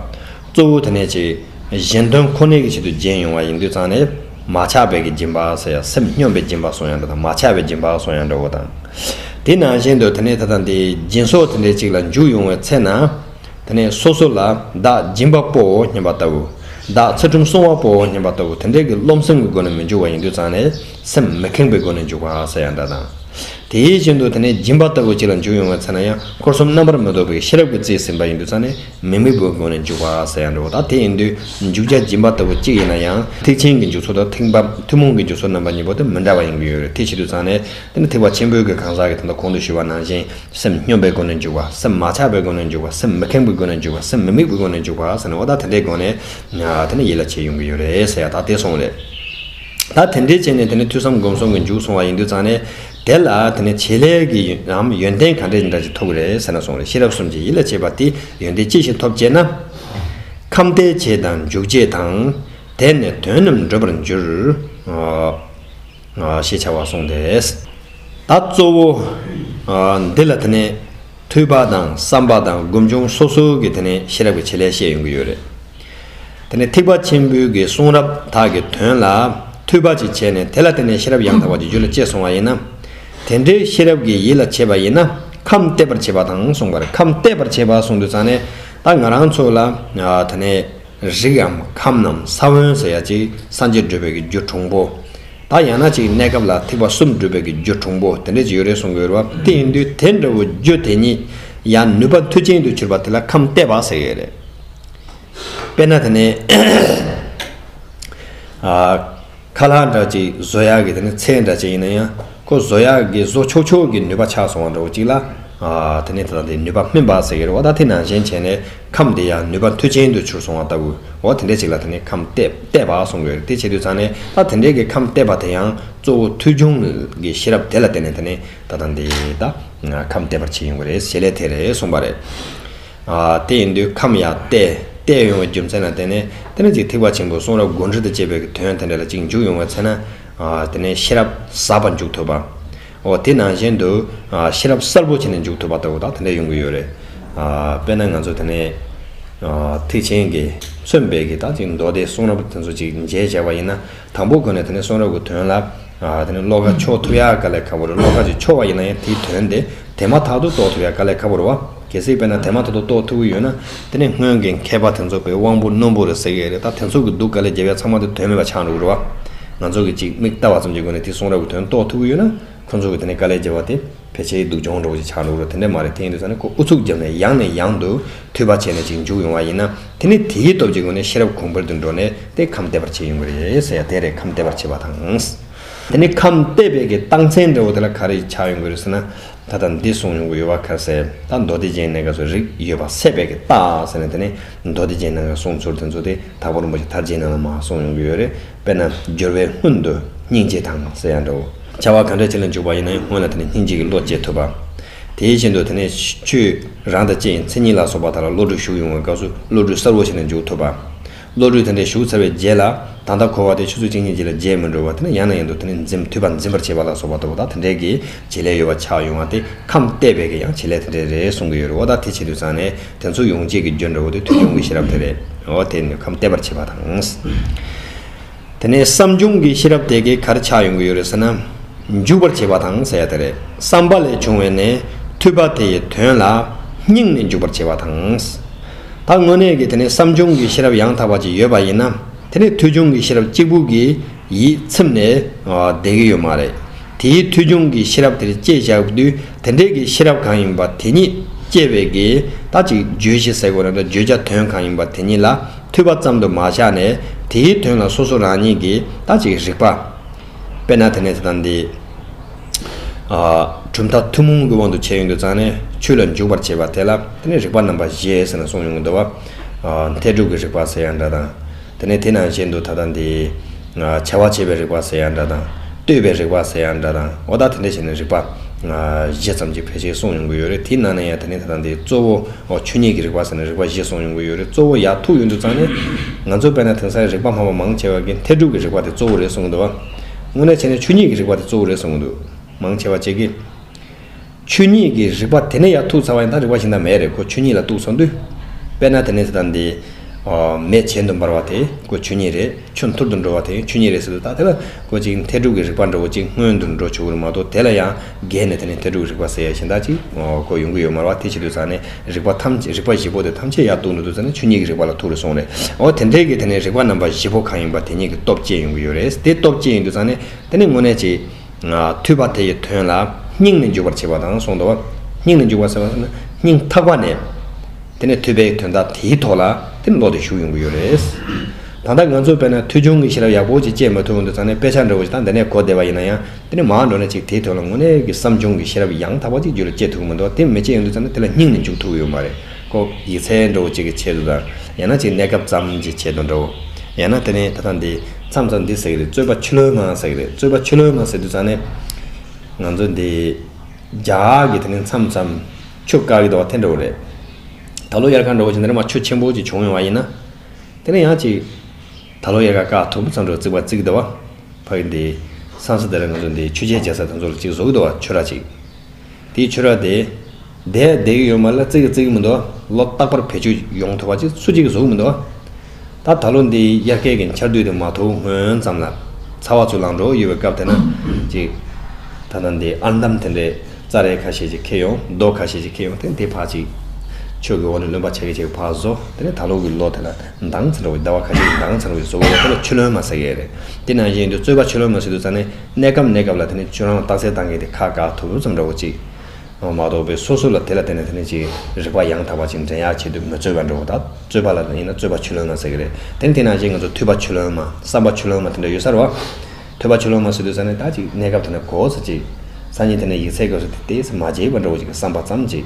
གཙོ་བོ་དེ་ནས་ཆེས་གཞན་དོན་ཁོ་ནའི་ཆེད་དུ་སྦྱིན་ཡོང་བ་ཡིན་དུས་ཚང་ནས་མ་ཆགས་པའི་སྦྱིན་པ་ཟེར་ཡ་སེམས་སྙོམས་པའི་སྦྱིན་པ་སོང་ཡང་འདྲ་དང་མ་ཆགས་པའི་སྦྱིན་པ་སོང་ཡང་འདྲ་བོ་དང། དེ་ནང་བཞིན་དུ་དེ་ནས་དེ་དང་དེ་སྦྱིན་སོགས་དེ་འདྲའི་ཅིག་ལ་འཇུག་ཡོང་བའི་ཚེ་ན། དེ་ནས་སོ་སོ་ལ་བདག་སྦྱིན་པ་པོའོ་སྙམ་པ་ལྟ་བུ། བདག་ཚེ་ཁྲུམས་སྲུང་བ་པོའོ་སྙམ་པ་ལྟ་བུ་དེ་འདྲའི་དགེ་སློང་སེམས་ཀྱི་སྒོ་ནས་མི་འཇུག་བ་ཡིན་དུས་ཙམ་ནས་སེམས་མི་ཁེངས་པའི་སྒོ་ནས་འཇུག་པ་ས་ཡ་འདྲ་དང། དེའི་རྐྱེན་དུ་དེ་ནས་སྦྱིན་པ་ལྟ་བུ་གཅིག་ལ་འཇུག་ཡོང་བའི་ཚེ་ན་ཡང་འཁོར་གསུམ་རྣམ་པར་མི་རྟོག་པའི་ཤེས་རབ་ཀྱི་རྩིས་ཟིན་པ་ཡིན་དུས་ཙམ་ནས་མི་དམིགས་པའི་སྒོ་ནས་འཇུག་པ་ས་ཡ་འདྲ་བ་དང་དེ་ཡིན་དུས་འཇུག་བྱ་སྦྱིན་པ་ལྟ་བུ་གཅིག་ཡིན་ན་ཡང་ཐེག་ཆེན་གྱི་འཇུག་ཚུལ་དང་ཐེག་པ་ཐུན་མོང་གི་འཇུག་ཚུལ་རྣམ་པ་གཉིས་པོ་དེ་མི་འདྲ་བ་ཡིན་གྱི་ཡོད་རེད་དེ་བྱེད་དུས་ཙམ་ནས་དེ་ནི་ཐེག་པ་ཆེན་པོའི་གང་ཟག་གི་དེ་ལྟ་གོང་དུ་ཞུས་པ་ནང་བཞིན་སེམས་སྙོམས་པའི་སྒོ་ནས་འཇུག་པ་སེམས་མ་ཆགས་པའི་སྒོ་ནས་འཇུག་པ་སེམས་མི་ཁེངས་པའི་སྒོ་ནས་འཇུག་པ་སེམས་མི་དམིགས་པའི་སྒོ་ནས་འཇུག་པ་ཟེར་ནས་ཨོ་ད་དེ་འདྲའི་སྒོ་ནས་དེ་ནི་ཡིད་ལ་བྱེད་ཡོང་གི་ཡོད་རེད་ཟེར་ཡག་ཐག་དེ་སོང་རེད། ད་དེ་འདྲའི་བྱས་ནས་དེ་ནི་ཐོས་བསམ་སྒོམ་གསུམ་གྱི་མཇུག་སོང་བ་ཡིན་དུས་ཙང་ནས་དེ་ལ་དེ་ནི་བྱེད་ལས་ཀྱི་ཡོན་ཡོན་ཏན་ག་འདྲས་འདྲ་ཅིག་ཐོབ་གི་རེད་ཟེར་ན་སོང་རེད་ཤེས་རབ་གསུམ་གྱིས་ཡིད་ལ་བྱེད་པ་དེ་ཡོན་ཏན་ཅི་ཞིག་ཐོབ་ཅེ་ན། ཁམས་བརྟལ་བྱེད་དང་འཇུག་བྱེད་དང། དེས་ནི་དོན་རྣམས་འགྲུབ་པར་འགྱུར། ཞེས་བྱ་བ་གསུངས་ཏེ། ད་གཙོ་བོ། འདི་ལ་དེ་ནས་ཐོས་པ་དང་བསམ་པ་དང་སྒོམ་བྱུང་སོ་སོ་གི་དེ་ནས་ཤེས་རབ་ཀྱི་བྱེད་ལས་བཤད་ཡོང་གི་ཡོད་རེད། དེ་ནས་ཐེག་པ་ཆེན་པོའི་གི་གསུང་རབ་དག་གི་དོན་ལ་ཐོས་པ་ཅིག་བྱས་ནས་དེ་ལ་བརྟེན་ནས་ཤེས་རབ་ཡང་དག་པ་ཀྱི་རྒྱུད་ལ་སྐྱེས་སོང་བ་ཡིན་ན། དེ་འདྲའི་ཤེས་རབ་ཀྱི་ཡིད་ལ་བྱེད་པ་ཡིན་ན་ཁམས་བརྟས་པར་བྱེད་པ་དང་གསུངས་པར་ཁམས་བརྟས་པར་བྱེད་པ་གསུངས་དུས་ཙང་ནས་ད་ང་རང་ཚོ་ལ་དེ་ནས། རིགས་འམ་ཁམས་རྣམས་ས་བོན་ཟེར་ཡ་གཅིག་སངས་རྒྱས་སྒྲུབ་པའི་གི་རྒྱུ་གྲུང་པོ། དག་ཡང་ན་གཅིག་གནས་སྐབས་ལ་ཐིགས་པ་གསུམ་སྒྲུབ་པའི་གི་རྒྱུ་གྲུང་པོ་དེ་འདྲས་ཅིག་ཡོད་རེད་གསུང་གི་ཡོད་རེད་བ་དེ་ཡིན་དུས་དེ་འདྲ་བོ་རྒྱུ་དེ་ཉིད་ཡང་ནུས་པ་མཐུ་ཅན་དུ་གྱུར་པ་དེ་ལ་ཁམས་བརྟས་པ་ཟེར་གི་ཡོད་རེད་དཔེར་ན་དེ་ནས། ཁ་ལྷ་འདྲ་གཅིག་བཟོ་ཡག་གི་དེ་ནི་ཚད་འདྲ་གཅིག་ཡིན་ན་ཡང་ཁོ་བཟོ་ཡག་གི་བཟོ་ཆོག་ཆོག་གི་ནུས་པ་ཆགས་སོང་བ་འདྲ་བོ་གཅིག་ལ། དེ་ནི་དེ་དང་དེའི་ནུས་པ་སྨིན་པ་ཟེར་གི་རེད་བ་ད་དེ་ནང་བཞིན་བྱས་ནས་ཁམས་དེ་ཡང་ནུས་པ་མཐུ་ཆེན་དུ་གྱུར་སོང་བ་ལྟ་བུ་འོ་དེ་འདྲའི་གཅིག་ལ་དེ་ནི་ཁམས་བལྟས་པ་གསུང་གི་རེད་དེ་བྱེད་དུས་ཚང་ནས་ད་དེ་འདྲའི་གི་ཁམས་བལྟས་པ་དེ་ཡང་གཙོ་བོ་མཐུ་སྦྱོང་གི་ཤེས་རབ་དེ་ལ་བརྟེན་ནས་དེ་ནི་ད་དང་དེ་ད་ཁམས་བལྟས་པར་བྱེད་ཡོང་གི་རེད་ཞེས་ལས་དེ་རེད་གསུང་པ་རེད། དེ་ཡིན་དུས་ཁམས་ཡང་བལྟས་བལྟས་ཡོང་བའི་རྒྱུ་མཚན་ལ་བརྟེན་ནས་དེ་ནས་ཅིག་ཐེག་པ་ཆེན་པོའི་གསུང་རབ་དགོངས་འགྲེལ་དུ་བཅས་པའི་གྱི་དོན་དེ་འདྲ་ལ་ཅིག་འཇུག་ཡོང་བའི་ཚེ་ན། དེ་ནས་ཤེས་རབ་ཟབ་པ་འཇུག་ཐུབ་པ། འོ་དེ་ནང་བཞིན་དུ། ཤེས་རབ་གསལ་པོ་བྱས་ནས་འཇུག་ཐུབ་པ་ལྟ་བུ་དག་དེ་འདྲ་ཡོང་གི་ཡོད་རེད། དཔེར་ན་ང་ཚོ་དེ་ནས། ཐེག་ཆེན་གྱི་མཚོན་དཔེ་གྱི་དག་ཅིག་མདོ་སྡེའི་གསུང་རབ་དེ་ཚོ་ཅིག་མཇལ་བྱས་པ་ཡིན་ན། དང་པོ་གོ་ནས་དེ་ནས་གསུང་རབ་ཀྱི་དོན་ལ། དེ་ནས་ཤློ་ཀ་མཆོག་ཐུབ་ཡག་དཀའ་ལས་ཁ་བོ་རེད་ཤློ་ཀ་ཅིག་ཆོ་བ་ཡིན་ན་ཡང་དེའི་དོན་དེ་དེ་མ་ཐག་ཏུ་རྟོགས་ཐུབ་ཡག་དཀའ་ལས་ཁ་བོ་རེད་བ། གལ་སྲིད་དཔེར་ན་དེ་མ་ཐག་ཏུ་རྟོགས་ཐུབ་ཀྱི་ཡོད་ན། དེ་ནས་སྔོན་གྱི་མཁས་པ་དེ་ཚོ་པའི་དབང་པོ་རྣོན་པོ་རེད་ཟེར་གྱི་རེད་ད་དེ་ཚོ་གི་འདུག་དཀའ་ལས་རྒྱལ་བས་ཚང་མ་དེ་དོན་མེད་པ་ཆགས་འགྲོ་གི་རེད་བ། ང་ཚོ་གི་ཅིག་མིག་བལྟ་བ་ཙམ་གྱི་སྒོ་ནས་དེའི་གསུང་རབ་ཀྱི་དོན་རྟོགས་ཐུབ་ཀྱི་ཡོད་ན། ཁོ་ཚོ་གི་དེ་ནས་དཀའ་ལས་རྒྱལ་བ་དེ། ཕལ་ཆེར་སྡུག་སྦྱོང་གྲོགས་ཀྱི་ཆ་འགྲོ་ལ་དེ་འདྲ་མ་རེད་དེ་ཡིན་དུས་ས་ནས་ཁོ་ཨུ་ཚུགས་བརྒྱབ་ནས་ཡང་ནས་ཡང་དུ་མཐུད་པ་བྱས་ནས་ཅིག་འཇུག་ཡོང་བ་ཡིན་ན་དེ་ནི་དེའི་སྟོབས་ཀྱི་སྒོ་ནས་ཤེས་རབ་གོང་འཕེལ་དུ་འགྲོ་ནས་དེས་ཁམས་བདེ་བར་བྱས་ཡོང་གི་རེད་ཟེར་ཡ་དེ་རེད་ཁམས་བདེ་བར་བྱས་པ་དང། དེ་ནི་ཁམས་བདེ་བས་ཀྱི་རྟགས་མཚན་འདྲ་བོ་དེ་ལ་ག་རེ་ཆགས་ཡོང་གི་རེད་ཟེར་ན་ད་ལྟ་འདི་གསུངས་ཡོང་གི་ཡོད་བ་ག་རེ་ཟེར་ད་མདོ་སྡེ་བརྒྱད་གནད་འགག་སོགས་རིགས་ཡོད་པ་སད་པས་ཀྱི་རྟགས་ཟེར་ན་དེ་ནི་མདོ་སྡེ་བརྒྱད་གནད་འགག་གསུངས་ཚུལ་དེ་ཚོ་དེ་དག་པོར་མོ་ཆེ་དར་རྒྱས་རྣམས་ལ་མ་གསུངས་ཡོང་གི་ཡོད་རེད། དཔེར་ན་སྦྱོར་བའི་སྔོན་དུ་སྙིང་རྗེ་དང་ཟེར་ཡང་འདྲའོ། བྱ་བ་གང་འདྲ་བྱེད་ལ་འཇུག་པ་ཡིན་ན་ཡང་སྔོན་ལ་དེ་ནས་སྙིང་རྗེ་གི་བློ་སྐྱེ་ཐུབ་པ། དེའི་བཞིན་དུ་དེ་ནས་ཆོས་རང་དང་བཅས་ཡིན་ཚེ་གཉིད་ལ་སོགས་པ་དག་ལ་བློ་གྲོས་ཞུགས་ཡོང་བའི་སྐབས་སུ་བློ་གྲོས་གསར་བོ་ཞིག་ལ་འཇུག་ཐུབ་པ། བློ་གྲོས་དེ་འདྲ་ཞུགས་ཚར་བའི་རྗེས་ལ་ད་ལྟ་འཁོར་བ་དེ་ཆུ་ཚོད་གཅིག་གཉིས་རྗེས་ལ་རྗེས་མི་འགྲོ་བར་དེ་ནས་ཡང་ན་ཡང་དུ་དེ་ནས་འཛིན་མཐུད་པ་འཛིན་པར་བྱེད་པ་ལ་སོགས་པ་ལྟ་བུ་དག་དེ་འདྲའི་གི་བྱེད་ལས་ཡོད་པ་ཆགས་ཡོང་བ་སྟེ་ཁམས་བལྟས་པས་ཀྱི་ཡང་བྱེད་ལས་དེ་འདྲའི་རེ་ཟུང་གི་ཡོད་རེ་བ་དག་དེ་བྱེད་དུས་ཚང་ནས་དེ་ཚོ་ཡོང་བྱེད་ཀྱི་རྒྱུ་འབྲས་བུ་དེ་ཐོས་བྱུང་གི་ཤེས་རབ་དེ་རེད། འོ་དེས་ནི་ཁམས་བལྟས་པར་བྱེད་པ་དང། དེ་ནས་བསམ་བྱུང་གི་ཤེས་རབ་དེ་གའི་གར་ཆགས་ཡོང་གི་ཡོད་རེད་ཟེར་ན། འཇུག་པར་བྱེད་པ་དང་ཟེར་ཡ་དེ་རེད། བསམ་པ་ལས་བྱུང་བའི་ནས་ཐོས་པ་དེ་ཡི་དོན་ལ། སྙིང་ནས་འཇུག་པར་བྱེད་པ་དང། ད་དངོས་གནས་ཀྱི་དེ་ནས་བསམ་བྱུང་གི་ཤེས་རབ་ཡང་དག་པ་ཅིག་ཡོད་པ་ཡིན་ན། དེ་ནས་ཐོས་བྱུང་གི་ཤེས་རབ་གཅིག་པུ་གྱིས། ཡིད་ཚིམ་ནས་བསྡད་ཀྱི་ཡོད་མ་རེད། དེའི་མཐུས་ཆུང་གི་ཤེས་རབ་དེར་སྐྱེས་བཞག་པ་དུས་དེ་འདྲའི་གི་ཤེས་རབ་གང་ཡིན་པ་དེ་ཉིད་སྐྱེས་པའི་གི་ད་ཅིག་བརྗོད་གཞི་ཟེར་དགོས་ན་དང་བརྗོད་བྱ་དོན་གང་ཡིན་པ་དེ་ཉིད་ལ་མཐུས་པ་ཙམ་དུ་མ་བཞག་ནས་དེའི་དོན་ལ་སོ་སོ་རང་ཉིད་ཀྱིས་ད་ཅིག་རིག་པ། དཔེར་ན་དེ་ནས་དེ་དང་དེ། གྲུབ་མཐའ་ཐུན་མོང་གི་དབང་དུ་བྱས་ཡོང་དུ་བརྩམས་ནས་ཆོས་ལ་འཇུག་པར་བྱེད་པ་དེ་ལ་དེ་ནི་རིག་པ་རྣམ་པ་བཞི་ཟེར་ན་གསུངས་ཡོང་གི་འདུག་བ། མཐའི་སྒྲུབ་ཀྱི་རིག་པ་ཟེར་ཡང་འདྲ་དང། དེ་ནས་དེ་ནང་བཞིན་དུ་ད་ལྟ་འདི། བྱ་བ་བྱེད་པའི་རིག་པ་ཟེར་ཡང་འདྲ་དང། ལྟོས་པའི་རིག་པ་ཟེར་ཡང་འདྲ་དང་ཨོ་ད་དེ་འདྲ་བྱས་ནས་རིག་པ། བཞི་ཙམ་གྱི་ཕལ་ཆེར་གསུངས་ཡོང་གི་ཡོད་རེད་དེའི་ནང་ནས་ཡང་དེ་ནི་ད་ལྟ་འདི་གཙོ་བོ། ཆོས་ཉིད་ཀྱི་རིག་པ་ཟེར་ནས་རིག་པ་བཞི་གསུངས་ཡོང་གི་ཡོད་རེད་གཙོ་བོ་ཡག་ཐུག་ཡོད་འདུག་ཙང་ནི། ང་ཚོ་བལྟ་ན་དེང་སང་རིག་པ་སྨྲ་བ་མང་ཆེ་བ་གིས་འཐད་སྒྲུབ་ཀྱི་རིག་པ་དེ་གཙོ་བོ་རེད་གསུངས་གི་འདུག་བ། དངོས་གནས་བྱས་ནས་ཆོས་ཉིད་ཀྱི་རིག་པ་དེ་གཙོ་བོ་རེད་གསུངས་གི་འདུག་མང་ཆེ་བ་བཅས་ཀྱིས། ཆོས་ཉིད་ཀྱི་རིག་པ་དེ་ནས་ཡང་ཐུག་ཚར་བ་ཡིན་ད་རིག་པ་ཞིག་ན་མེད་རེད་ཁོ་ཆོས་ཉིད་ལ་གཏུགས་སོང་དུས། དཔེར་ན་དེ་ནས་ད་འདི། མེ་ཇེ་མཐུར་འབར་བ་དེ་ཁོ་ཆོས་ཉིད་རེད་ཆུ་མཐུར་དུ་འགྲོ་བ་དེ་ཆོས་ཉིད་རེད་ཟེར་དུས་ད་དེ་ལ་ཁོ་ཅིག་མཐའི་དྲུག་གི་རིག་པ་འགྲོ་གོ་ཅིག་སྔོན་དུ་འགྲོ་བྱུང་གི་རུང་མ་གཏོགས་དེ་ལ་ཡང་བརྒལ་ནས་དེ་ནས་མཐའི་དྲུག་གི་རིག་པ་ཟེར་ཡ་ཞིག་ད་ཅིག་ཁོ་ཡོང་གི་ཡོད་མ་རེད་བ་དེ་བྱེད་དུས་ད་ནས་རིག་པ་ཐམས་ཅད་རིག་པ་བཞི་པོ་དེ་ཐམས་ཅད་ཡར་གཏུགས་འགྲོ་དུས་ད་ནས་ཆོས་ཉིད་ཀྱི་རིག་པ་ལ་ཐུག་རེ་སོང་རེད་འོ་དེ་འདྲའི་གི་དེ་ནས་རིག་པ་རྣམ་པ་བཞི་པོ་གང་ཡིན་པ་དེ་ཉིད་ཀྱི་སྟོབས་བསྐྱེད་ཡོང་གི་ཡོད་རེད་དེ་སྟོབས་བསྐྱེད་ཡིན་དུས་ད་ནས་དེ་ནས་དངོས་གནས་ཇེ། ཐོས་པ་དེ་ཡི་དོན་ལ་སྙིང་ནས་འཇུག་པར་བྱེད་པ་དང་གསུངས་ཏོ། སྙིང་ནས་འཇུག་པ་ཟེར་བ་ལ་ནི་སྙིང་ཐག་པ་ནས། དེ་ནས་ཐོས་པའི་དོན་དག་དེའི་ཐོག་ལ་དེ་ནི་ལོག་སྟེ་ཞུགས་ཡོང་གི་ཡོད་རེད། ད་ལྟ་ང་ཚོ་བས་ན་ཐོས་ཆུང་གི་ཤེས་རབ་ཡག་པོ་ཅིག་སྤྱད་མ་ཐུབ་འོན་ཏུ་ཚང་ནས་དཔེ་ཆ་འདྲ་བོ་ཞིག་དང་འདི་ནས་གོ་བདེ་བ་ཡིན་ན་ཡང་དེ་ནི་མང་འགྲོ་ན་ཅིག་དེའི་དོན་ལ་དངོས་གནས་ཀྱི་བསམ་བྱུང་གི་ཤེས་རབ་ཡང་དག་པ་ཅིག་རྒྱུད་ལ་སྐྱེ་ཐུབ་ཀྱི་མི་འདུག་དེ་མི་སྐྱེ་ཡོང་དུ་ཚང་ནས་དེ་ལ་སྙིང་ནས་འཇུག་ཐུབ་ཀྱི་ཡོད་མ་རེད། ཀོ། ཡིག་ཚད་འགྲོ་བ་གཅིག་གི་ཆེད་དུ་དང། ཡང་ན་གཅིག་གནས་སྐབས་ཙམ་གྱི་ཆེད་དུ་འགྲོའོ། ཡང་ན་དེ་ནི་ད་ལྟ་འདི་མཚམས་སུ་འདི་ཟེར་གྱི་རེད་རྩོད་པ་ཆུ་ལོའི་ནང་ཟེར་གྱི་རེད་རྩོད་པ་ཆུ་ལོའི་ནང་ཟེར་དུས་ཙང་ནི། ང་ཚོ་འདི། རྒྱ་གི་དེ་ནི་མཚམས་སམ། ཆུ་དཀར་གྱི་འདུག་བ་དེ་འགྲོ་བ་རེད། ད་ལོ་དབྱར་ཁ་འགྲོ་བ་ཆུ་འདི་འདྲ་མ་ཆུ་ཆེན་པོ་གཅིག་བྱུང་ཡོང་བ་ཡིན་ན། དེ་ནི་ཡང་གཅིག། ད་ལོ་དབྱར་ཁ་ཀ་དོག་པོ་ཙམ་འགྲོ་བརྩིགས་པ་བརྩིགས་གི་འདུག་བ། ཕ་གི་འདི། མཚམས་སུ་དེ་རིང་ང་ཚོ་འདི་ཆུ་ཆེན་བརྒྱ་ས་དེ་ཚོ་ལ་གཅིག་བཟོ་གི་འདུག་བ་ཆུ་ར་གཅིག། དེའི་ཕྱིར་རོ། དེ་བདེ་གི་ཡོད་མ་ལ་བརྩེ་གི་བརྩེ་གི་མི་འདུག་ལོ་རྟག་པར་བེད་སྤྱོད་ཡོང་ཐུབ་པ་ཅིག་སུ་གཅིག་གིས་བཟོ་གི་མི་འདུག་ད་ད་ལོ་འདི་དབྱར་ཁའི་གི་འཆར་དུས་དེ་མ་ཐུག་སྔོན་ཙམ་ལ་ཚ་བ་ཚུར་ལངས་འགྲོ་ཡི་ཡོད་པའི་སྐབས་དེ་ན་ཅིག་ད་ལྟ་འདི་ཨར་འདམ་དེ་འདྲའི་རྩྭ་རའི་ཁ་ཤས་ཅིག་འཁེལ་ཡོང་རྡོ་ཁ་ཤས་ཅིག་འཁེལ་ཡོང་དེ་འདི་ཕག་ཅིག་ཆོས་གི་འོག་ནས་ལོན་པ་ཆེ་གི་ཆེ་གི་ཕག་བཟོ་དེ་ནས་ད་ལོ་གི་ལོ་དེ་ལ་འདང་ཚ་འདྲ་བའི་ཟླ་བ་ཁ་ཤས་ཀྱི་འདང་ཚ་འདྲ་བའི་བཟོ་བའི་འོག་ཏུ་ཆུ་ལོན་མ་ཟེར་གི་རེད་དེ་ནང་བཞིན་དུ་རྩོད་པ་ཆུ་ལོན་མ་ཟེར་དུས་རྩ་ནས་གནས་སྐབས་གནས་སྐབས་ལ་དེ་ནས་ཁྱོད་རང་ལ་རྟགས་གསལ་བཏང་གི་དེ་ཁ་དགག་ཐུབ་རུབ་ཙམ་འདྲ་བོ་ཅིག་མ་གཏོགས་པའི་སོ་སོ་ལ་དེ་ལ་བརྟེན་ནས་དེ་ནས་ཅིག་རིག་པ་ཡང་དག་པ་ཅིག་འདྲེན་ཡག་བྱེད་དུས་མི་རྩོད་པ་འདྲ་བོ་དང་རྩོད་པ་ལ་ཡིན་ན་རྩོད་པ་ཆུ་ལོན་མ་ཟེར་གི་རེད་དེ་ནི་དེ་ནང་བཞིན་ང་ཚོ་ཐོས་པ་ཆུ་ལོན་མ་བསམ་པ་ཆུ་ལོན་མ་དེ་འདྲ་ཡོད་ས་རུ་བ། ཐོས་པ་ཆུ་ལོན་མ་ཟེར་དུས་ས་ནས་ད་ཅིག་གནས་སྐབས་དེ་ནས་གོ་ས་ཅིག་ས་ཉིད་དེ་ནས་ཡིག་ཚད་དགོས་ས་དེ་དེ་ས་མ་བརྗེད་པ་འདྲ་བོ་ཅིག་གི་བསམ་པ་ཙམ་ཅིག་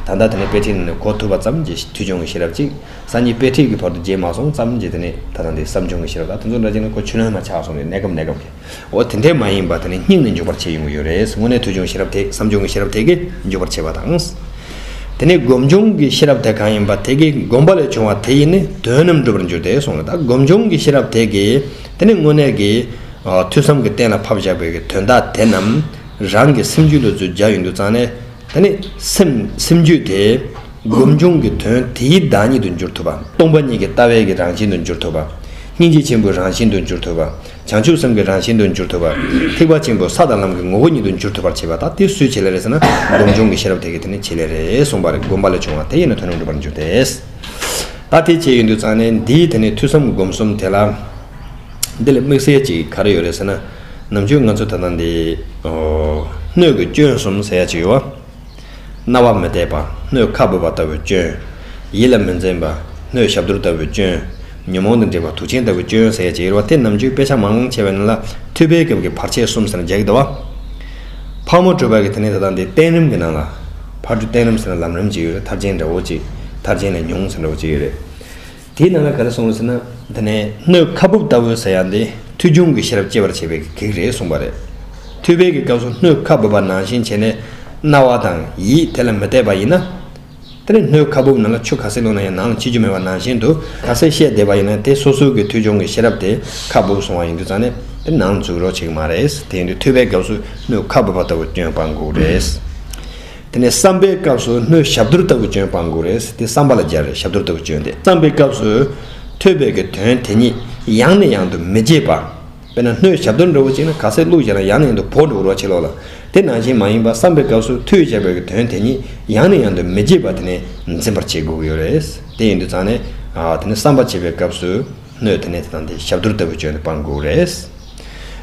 ད་ལྟ་དེ་ནས་དཔེ་ཁྲིད་ནང་ནས་གོ་ཐུབ་པ་ཙམ་གྱི་ཐོས་ཆུང་གི་ཤེས་རབ་ཅིག་ས་ཉིད་དཔེ་ཁྲིད་ཀྱི་བར་དུ་བརྗེད་མ་སོང་ཙམ་གྱི་དེ་ནས་ད་ལྟ་འདི་བསམ་ཆུང་གི་ཤེས་རབ་དང་དེ་ཚོ་འདྲ་བྱས་ནས་གོ་ཆུ་ལོན་མ་ཆགས་སོང་ནས་གནས་སྐབས་གནས་སྐབས་ཀྱི། འོ་དེ་འདྲས་མ་ཡིན་པ་དེ་ནི་སྙིང་ནས་འཇུག་པར་བྱེད་ཡོང་གི་ཡོད་རེད་དངོས་གནས་ཐོས་ཆུང་ཤེས་རབ་དེ་བསམ་བྱུང་གི་ཤེས་རབ་དེ་གས་འཇུག་པར་བྱེད་པ་དང། དེ་ནས་སྒོམ་བྱུང་གི་ཤེས་རབ་དེ་གང་ཡིན་པ་དེ་གས་སྒོམ་པ་ལས་བྱུང་བ་དེ་ཡིས་ནི་དོན་རྣམས་འགྲུབ་པར་འགྱུར་ཏེ་སོང་ལ་ད་སྒོམ་བྱུང་གི་ཤེས་རབ་དེ་གས་དེ་ནི་དངོས་གནས་ཀྱི། ཐོས་བསམ་གྱི་གཏན་ལ་ཕབ་བཞག་པའི་དོན་དག་དེ་རྣམས་རང་གི་སེམས་རྒྱུད་ལ་རྫུས་རྒྱ་ཡོང་རྒྱུ་ཙང་ནས། ད་ནི་སེམས་རྒྱུད་དེ་སྒོམ་བྱུང་གི་དོན་དེའི་བདག་ཉིད་དུ་འགྱུར་ཐུབ་པ། སྟོང་པ་ཉིད་ཀྱི་ལྟ་བའི་གྱི་རང་བཞིན་དུ་འགྱུར་ཐུབ་པ། སྙིང་རྗེ་ཆེན་པོའི་རང་བཞིན་དུ་འགྱུར་ཐུབ་པ། བྱང་ཆུབ་སེམས་ཀྱི་རང་བཞིན་དུ་འགྱུར་ཐུབ་པ། ཐེག་པ་ཆེན་པོ་ས་དང་ལམ་གྱི་ངོ་བོ་ཉིད་དུ་འགྱུར་ཐུབ་པར་བྱེད་པ་དག་དེ་སུའི་བྱེད་ལས་རེད་ཟེར་ན་སྡོམ་འབྱུང་གི་ཤེས་རབ་དེ་གིས་དེ་ནི་བྱེད་ལས་རེད་གསུངས་པ་རེད་སྒོམ་པ་ལས་བྱུང་བ་དེ་ཡིན་ན་དོན་རྣམས་འགྲུབ་པར་འགྱུར་ཏེ། ད་དེ་བྱས་ཡོད་འདུག་ཙང་ནས་འདིའི་དེ་ནི་ཐོས་བསམ་སྒོམ་གསུམ་དེ་ལ། འདི་ལ་དམིགས་བསལ་ཅིག་ག་རེ་ཡོད་རེད་ཟེར་ན། ནམ་རྒྱུན་ང་ཚོ་ད་ལྟ་འདི། སྣོད་ཀྱི་སྐྱོན་གསུམ་ཟེར་ཡག་ཅིག་ཡོད། རྣ་བ་མི་བདེ་བ། སྣོད་ཁ་འབོད་པ་ལྟ་བུའི་སྐྱོན། ཡིད་ལ་མི་འཛིན་པ། སྣོད་ཞབས་དུར་ལྟ་བུའི་སྐྱོན། ཉོན་མོངས་དང་འདྲེས་པ་དུག་ཆེན་ལྟ་བུའི་སྐྱོན་ཟས་ཀྱི་དབྱེ་བ་སྟེ་ནམ་རྒྱུན་དཔེ་ཆ་མང་ཆེ་བས་ན་ལ་ཐུལ་བའི་སྐབས་ཀྱི་བར་ཆད་གསུམ་ཟེར་ན་འཇལ་གི་འདུག་བ། ཕག་མོ་བྲུས་པ་གི་དེ་ནས་ད་ལྟ་འདི་བསྟན་རིམ་གྱི་ནང་ལ། ཕར་འགྲོ་བསྟན་རིམ་ཟེར་ན་ལམ་རིམ་གཅིག་ཡོད་རེད་མཐར་འབྱིན་འདྲ་བོ་གཅིག་མཐར་འབྱིན་ལས་ཉུང་ཟེར་འདྲ་བོ་གཅིག་ཡོད་རེད། དེའི་ནང་ལ་ག་རེ་གསུངས་ཟེར་ན། འདི་ནི་སྣོད་ཁ་སྦུབ་ལྟ་བུའི་ཟེར་ཡང་དེ་མཐུ་ཆུང་གི་ཤེས་རབ་སྐྱེ་བར་བྱེད་པའི་གེགས་རེད་གསུངས་པ་རེད། མཐུ་དཔལ་གྱི་སྐབས་སུ་སྣོད་ཁ་སྦུབ་པ་ནང་བཞིན་བྱས་ནས། རྣ་བ་དང་ཡིད་དེ་ལ་མི་གཏད་པ་ཡིན་ན། དེ་ནི་སྣོད་ཁ་སྦུབ་ནང་ལ་ཆུ་ག་སྲིད་ལོངས་ན་ཡང་ནང་ལ་འཆི་རྒྱུ་མེད་པ་ནང་བཞིན་དུ། ག་སྲིད་ཤེས་བསྡད་པ་ཡིན་ན་དེ་སོ་སོའི་གི་མཐུ་ཆུང་གི་ཤེས་རབ་དེ་ཁ་སྦུབ་སོང་བ་ཡིན་དུས་ཙང་ནས་དེ་ནང་འཛུགས་རོགས་བྱེད་ཀྱི་མ་རེད། དེ་ཡིན་དུས་མཐུ་དཔལ་སྐབས་སུ་སྣོད་ཁ་སྦུབ་པ་ལྟ་བུ་བསྐྱོན་སྤང་འགུགས་རེད། དེ་ནས་བསམ་པའི་སྐབས་སུ་སྣོད་ཞབས་རྡོར་ལྟ་བུ་བྱོན་སྤང་དགོས་རེད་དེ་བསམ་པ་ལ་སྦྱར་བས་ཞབས་རྡོར་ལྟ་བུ་བྱོན་ཏེ་བསམ་པའི་སྐབས་སུ། ཐོས་པས་ཀྱི་དོན་དེ་ཉིད་ཡང་ནས་ཡང་དུ་མི་བརྗེད་པ། དཔེར་ན་སྣོད་ཞབས་རྡོར་འདྲ་བོ་ཅིག་ན་ག་ཚད་བླུགས་བྱས་ན་ཡང་ནས་ཡང་དུ་བོར་འགྲོ་བར་བྱེད་ལོག་ལ། དེ་ནང་བཞིན་མ་ཡིན་པ་བསམ་པའི་སྐབས་སུ་ཐོས་བྱས་པའི་ཀྱི་དོན་དེ་ཉིད་ཡང་ནས་ཡང་དུ་མི་བརྗེད་པ་དེ་ནས་འཛིན་པར་བྱེད་དགོས་ཀྱི་ཡོད་རེད། དེ་ཡིན་དུ་ཚང་ནས། དེ་ནས་བསམ་པ་བྱེད་པའི་སྐབས་སུ། སྣོད་དེ་ནས་དེ་དང་དེ་ཞབས་རྡོར་ལྟ་བུས་བཅོས་ནས་སྤང་དགོས་རེད།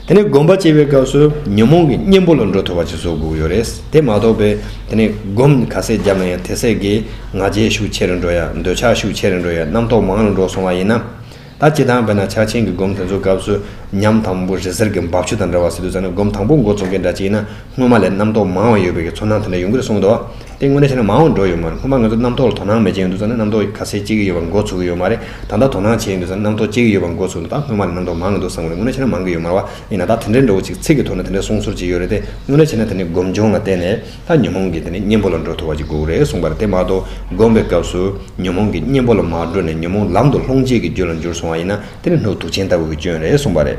དེ་ནས་སྒོམ་པ་སྐྱེ་བའི་སྐབས་སུ་ཉོན་མོངས་ཀྱི་གཉེན་པོ་ལ་འགྲོ་ཐུབ་པ་ཅིག་བཟོ་དགོས་ཡོད་རེད། དེ་མ་གཏོགས་པའི་དེ་ནས་སྒོམ་ག་ཚད་བརྒྱབ་ན་ཡང་དེ་ཟད་ཀྱི་ང་རྒྱལ་ཤུགས་ཆེ་རུ་འགྲོ་ཡ་འདོད་ཆགས་ཤུགས་ཆེ་རུ་འགྲོ་ཡ་རྣམ་རྟོག་མང་རུ་འགྲོ་སོང་བ་ཡིན་ན། ད་སྤྱི་དང་བས་ན་ཕྱག་ཆེན་གྱི་སྒོམ་དེ་ཚོའི་སྐབས་སུ་ཉམས་དང་པོ་རི་གཟར་གྱི་འབབ་ཆུ་དང་འདྲ་བ་སྲིད་དུ་ཟེར་ན་སྒོམ་དང་པོ་མགོ་རྩོམ་མཁན་འདྲ་གཅིག་ཡིན་ན་སྔོན་མ་ལས་རྣམ་རྟོག་མང་བ་ཡོད་པའི་གྱི་ཚོར་སྣང་དེ་འདྲ་ཡོང་གི་རེད་གསུངས་འདུག། དེ་དངོས་གནས་བྱས་ན་མང་བོ་འགྲོ་ཡོད་མ་རེད་སྔོན་མ་ང་ཚོ་རྣམ་རྟོག་ལ་དོ་སྣང་མེད་ཀྱི་ཡོད་འདུག་ས་ནས་རྣམ་རྟོག་ག་ཚད་ཅིག་ཡོད་པ་འགོ་ཚུགས་ཀྱི་ཡོད་མ་རེད་ད་ལྟ་དོ་སྣང་བྱས་ཡོད་འདུག་ས་ནས་རྣམ་རྟོག་ཅིག་ཡོད་པ་འགོ་ཚུགས་འདུག་ད་སྔོན་མ་ལས་རྣམ་རྟོག་མང་གི་འདུག་བསམ་གི་རེད་དངོས་གནས་བྱས་ན་མང་གི་ཡོད་མ་རེད་བ་ཡིན་ན་ད་དེ་འདྲའི་འགྲོ་བ་ཅིག་ཚིག་གི་ཐོག་ནས་དེ་འདྲའི་གསུང་ཟུར་ཅིག་ཡོད་རེད་དེ་དངོས་གནས་བྱས་ན་དེ་ནི་སྒོམ་བྱུང་ལ་བརྟེན་ནས་ད་ཉོན་མོངས་ཀྱི་དེ་ནི་གཉེན་པོ་ལ་འགྲོ་ཐུབ་པ་ཅིག་དགོས་རེད་གསུངས་པ་རེད་དེ་མ་གཏོགས་སྒོམ་པའི་སྐབས་སུ་ཉོན་མོངས་ཀྱི་གཉེན་པོ་ལ་མ་འགྲོ་ནས་ཉོན་མོངས་ལམ་དུ་ལྷོངས་བྱེད་ཀྱི་རྒྱུ་ལ་འགྱུར་སོང་བ་ཡིན་ན་དེ་ནི་སྣོད་དུག་ཆེན་ལྟ་བུ་གི་སྐྱོན་རེད་གསུངས་པ་རེད།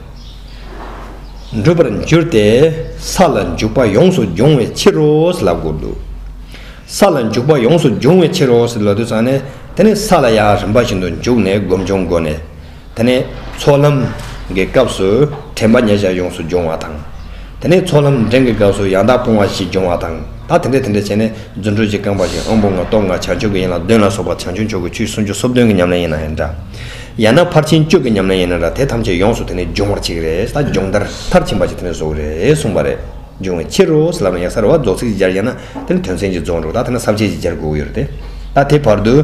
འགྲུབ་པར་འགྱུར་ཏེ། ས་ལ་འཇུག་པ་ཡོངས་སུ་འབྱུང་བའི་ཕྱིར་རོ་ཞེས་ལབ་དགོས་འདུག། ས་ལ་འཇུག་པ་ཡོངས་སུ་འབྱུང་བའི་ཕྱིར་རོ་ཞེས་ལབ་དུས་ཚང་ནས་དེ་ནི་ས་ལ་ཡང་རིམ་པ་བཞིན་དུ་འཇུག་ནས་སྒོམ་བྱུང་སྒོ་ནས་དེ་ནི་ཚོགས་ལམ་གྱི་སྐབས་སུ་དྲན་པ་ཉེ་བཞག་ཡོངས་སུ་འབྱུང་བ་དང། དེ་ནི་ཚོགས་ལམ་འདྲེན་གྱི་སྐབས་སུ་ཡང་དག་སྤོང་བ་བཞི་འབྱུང་བ་དང་ད་དེ་འདྲ་དེ་འདྲ་བྱས་ནས་རྫུ་འཕྲུལ་གྱི་རྐང་པ་བཞིན་དབང་པོ་ལྔ་སྟོབས་ལྔ་བྱང་ཆུབ་ཀྱི་ཡན་ལག་བདུན་ལ་སོགས་པ་བྱང་ཆུབ་མཆོག་གི་ཆུའི་སུམ་ཅུ་སོ་བདུན་གྱི་ཉམས་ལེན་ཡིན་ན་ཡང་འདྲ། ཡང་ན་ཕར་ཕྱིན་བཅུ་གི་ཉམས་ལེན་ཡིན་ན་ར་དེ་ཐམས་ཅད་ཡོངས་སུ་དེ་ནས་སྦྱོང་བར་བྱེད་ཀྱི་རེད་ད་སྦྱོང་བརྡར་མཐར་ཕྱིན་པ་ཅིག་དེ་ནས་བཟོ་གི་རེད་གསུངས་པ་རེད། འབྱུང་བའི་ཕྱིར་རོ་ལབ་ན་ཡང་ས་རུ་བ་རྫོགས་ཚིག་ཅིག་སྦྱར་ཡང་ན་དེ་ནི་དོན་ཚན་གཅིག་རྫོགས་འགྲོ་ད་དེ་ན་ཟབ་ཆའི་ཅིག་སྦྱར་དགོས་ཀྱི་ཡོད་རེད་དེ། ད་དེ་བར་དུ།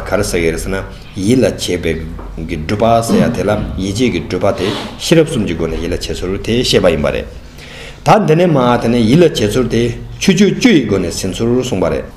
ག་རེ་ཟེར་གྱི་རེད་ཟེར་ན། ཡིད་ལ་བྱེད་པའི། གི་སྒྲུབ་པ་ཟེར་ཡ་དེ་ལ་ཡིད་བྱེད་ཀྱི་སྒྲུབ་པ་དེ་ཤེས་རབ་གསུམ་གྱི་སྒོ་ནས་ཡིད་ལ་བྱེད་ཚུལ་དེ་བཤད་པ་ཡིན་པ་རེད། ད་འདི་ནས་མ་དེ་ནས་ཡིད་ལ་བྱེད་ཚུལ་དེ་ཆོས་སྤྱོད་བཅུ་ཡི་སྒོ་ནས་ཟིན་ཚུལ་གསུངས་པ་རེད།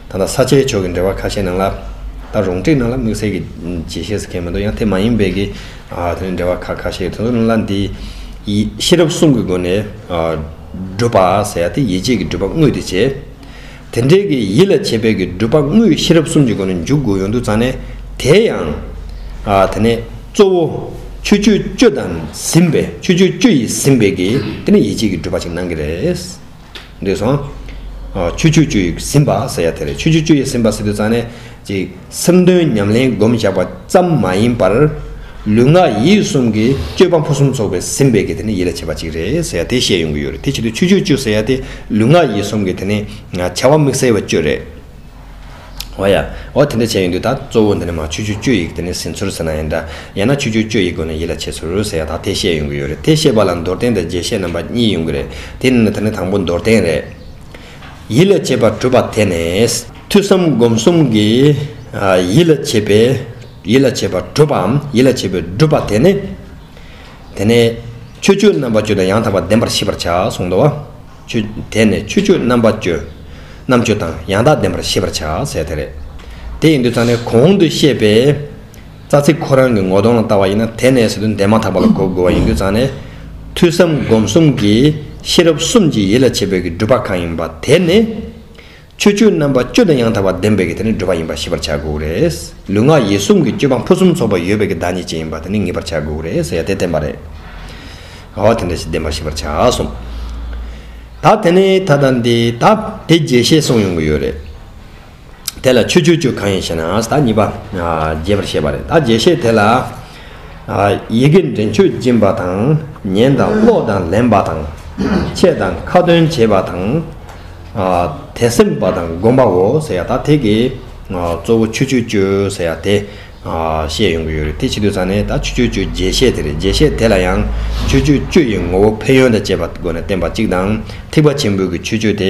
ད་ལྟ་ས་ཆའི་ཕྱོགས་ཀྱི་འབྲེལ་བ་ཁ་ཤས་ནང་ལ། ད་རུང་བཀྲིས་ནང་ལ་དམིགས་བསལ་གྱི་རྗེས་ཤེས་ཟེར་མཁན་མི་འདུག་ཡང་དེ་མ་ཡིན་པའི་གི་དེ་ནི་འབྲེལ་བ་ཁ་ཁ་ཤས་དོན་དུ་ལ་འདི། ཤེས་རབ་གསུམ་གྱི་སྒོ་ནས་བསྒྲུབ་པ་ཟེར་ཡ་དེ་ཡིད་བྱེད་ཀྱི་སྒྲུབ་པ་དངོས་དེ་བྱེད། དེ་འབྲེལ་གྱི་ཡིད་ལ་བྱེད་པའི་གི་སྒྲུབ་པ་དངོས་ཤེས་རབ་གསུམ་གྱི་སྒོ་ནས་འཇུག་དགོས་ཡོང་དུ་ཙང་ནས་དེ་ཡང། དེ་ནས་གཙོ་བོ། ཆོས་སྤྱོད་སྤྱོད་དང་ཟིན་པའི་ཆོས་སྤྱོད་སྤྱོད་ཡིས་ཟིན་པའི་གི་དེ་ནི་ཡིད་བྱེད་ཀྱི་སྒྲུབ་པ་ཞིག་སྣང་གི་རེད། འདོད་སོང། ཆུ་ཆུ་ཆུ་ཡིས་ཟིན་པ་ཟེར་ཡ་དེ་རེད་ཆུ་ཆུ་ཆུ་ཡིས་ཟིན་པ་ཟེར་དུས་ཙང་ནས་ཅིག་སེམས་དོན་ཉམས་ལེན་སྒོམ་བཞག་པ་ཙམ་མ་ཡིན་པར། ལུས་ངག་ཡིད་གསུམ་གྱི་སྤྱོད་པ་ཕུན་སུམ་ཚོགས་པའི་ཟིན་པའི་གི་དེ་ནི་ཡིད་ལ་བྱེད་པ་ཅིག་རེད་ཟེར་ཡ་དེ་བཤད་ཡོང་གི་ཡོད་རེད་དེ་བྱེད་དུས་ཆུ་ཆུ་ཆུ་ཟེར་ཡ་དེ་ལུས་ངག་ཡིད་གསུམ་གྱི་དེ་ནི་བྱ་བ་དམིགས་བསལ་བའི་སྤྱོད་རེད། འོ་ཡ། འོ་དེ་འདྲ་བྱས་ཡོང་དུས་ད་གཙོ་བོ་འདི་ནས་མ་ཆུ་ཆུ་སྤྱོད་ཡིག་དེ་ནས་ཟིན་ཚུར་ཟེར་ན་ཡིན་འདྲ། ཡང་ན་ཆུ་ཆུ་སྤྱོད་ཡིག་དགོས་ན་ཡིད་ལ་བྱེད་ཚུར་ཟེར་ཡག་ད་དེ་བཤད་ཡོང་གི་ཡོད་རེད་དེ་བཤད་པ་ལ་མདོར་བསྟན་དང་རྒྱས་བཤད་རྣམ་པ་གཉིས་ཡོང་གི་རེད་དེ་ནི་ད་ནི་དང་པོ་མདོར་བསྟན་རེད། ཡིད་ལ་བྱེད་པ་གྲུབ་པ་དེ་ནས། ཐོས་བསམ་སྒོམ་གསུམ་གྱི། ཡིད་ལ་བྱེད་པའི། ཡིད་ལ་བྱེད་པ་གྲུབ་པའམ་ཡིད་ལ་བྱེད་པའི་སྒྲུབ་པ་དེ་ནི། དེ་ནས། ཆོས་སྤྱོད་རྣམ་པ་སྤྱོད་དང་ཡང་དག་པར་བདེན་པར་ཤེས་པར་བྱ་གསུངས་ཏོ། ཆོས་དད་ནས་ཆོས་སྤྱོད་རྣམ་པ་སྤྱོད། རྣམ་དཔྱོད་དང་ཡང་དག་ལྡན་པར་ཤེས་པར་བྱ་ཟེར་བ་དེ་རེད། དེ་ཡིན་དུས་རྩ་ནས་གོང་དུ་བཤད་པའི་རྩ་ཚིག་ཁོ་རང་གི་ངོ་གདོང་ལ་བལྟ་བ་ཡིན་ན་དེ་ནས་ཟེར་དུས་འདས་མ་ཐག་པ་ལ་གོ་དགོས་པ་ཡིན་དུས་རྩ་ནས། ཐོས་བསམ་སྒོམ་གསུམ་གྱིས་ཤེས་རབ་གསུམ་གྱིས་ཡིད་ལ་བྱེད་པའི་གི་སྒྲུབ་པ་གང་ཡིན་པ་དེ་ནི། ཆོས་སྤྱོད་རྣམ་པ་བཅུ་དང་ཡང་དག་པར་ལྡན་པའི་གྱི་དེ་ནི་བགྲོད་པ་ཡིན་པར་ཤེས་པར་བྱ་དགོས་རེད། ལུས་ངག་ཡིད་གསུམ་གྱི་སྤྱོད་པ་ཕུན་སུམ་ཚོགས་པ་ཡོད་པའི་གྱི་བདག་ཉིད་ཅན་ཡིན་པར་དེ་ནི་ངེས་པར་བྱ་དགོས་རེད་ཟེར་ཡ་དེ་བསྟན་པ་རེད། ག་བ་དེ་འདྲ་ཞིག་བདེན་པར་ཤེས་པར་བྱ་གསུངས། ད་དེ་ནི་ད་ད་འདི་ད་དེ་རྒྱས་བཤད་གསུངས་ཡོང་གི་ཡོད་རེད། དེ་ལ་ཆོས་སྤྱོད་བཅུ་གང་ཡིན་ཞེ་ན་ད་གཉིས་པ་རྒྱས་པར་བཤད་པ་རེད་ད་རྒྱས་བཤད་དེ་ལ། ཡི་གེ་འདྲེན་མཆོད་སྦྱིན་པ་དང། ཉན་དང་ཀློག་དང་ལེན་པ་དང། འཆད་དང་ཁ་ཏོན་བྱེད་པ་དང། དད་སེམས་པ་དང་སྒོམ་པའོ་ཟེར་ཡ་ད་དེ་གི་གཙོ་བོ་ཆུ་ཆུ་གཅོད་ཟེར་ཡ་དེ་བཤད་ཡོང་གི་ཡོད་རེད་དེ་ཕྱི་དུས་ཚང་ནས་ད་ཆུ་ཆུ་གཅོད་རྒྱས་བཤད་དེ་རེད་རྒྱས་བཤད་དེ་ལ་ཡང་ཆུ་ཆུ་གཅོད་ཡི་ངོ་བོ་ཕན་ཡོན་དང་བཅས་པ་སྒོ་ནས་བསྟན་པ་གཅིག་དང་ཐིགས་པ་ཆེན་པོའི་གི་ཆུ་གཅོད་དེ་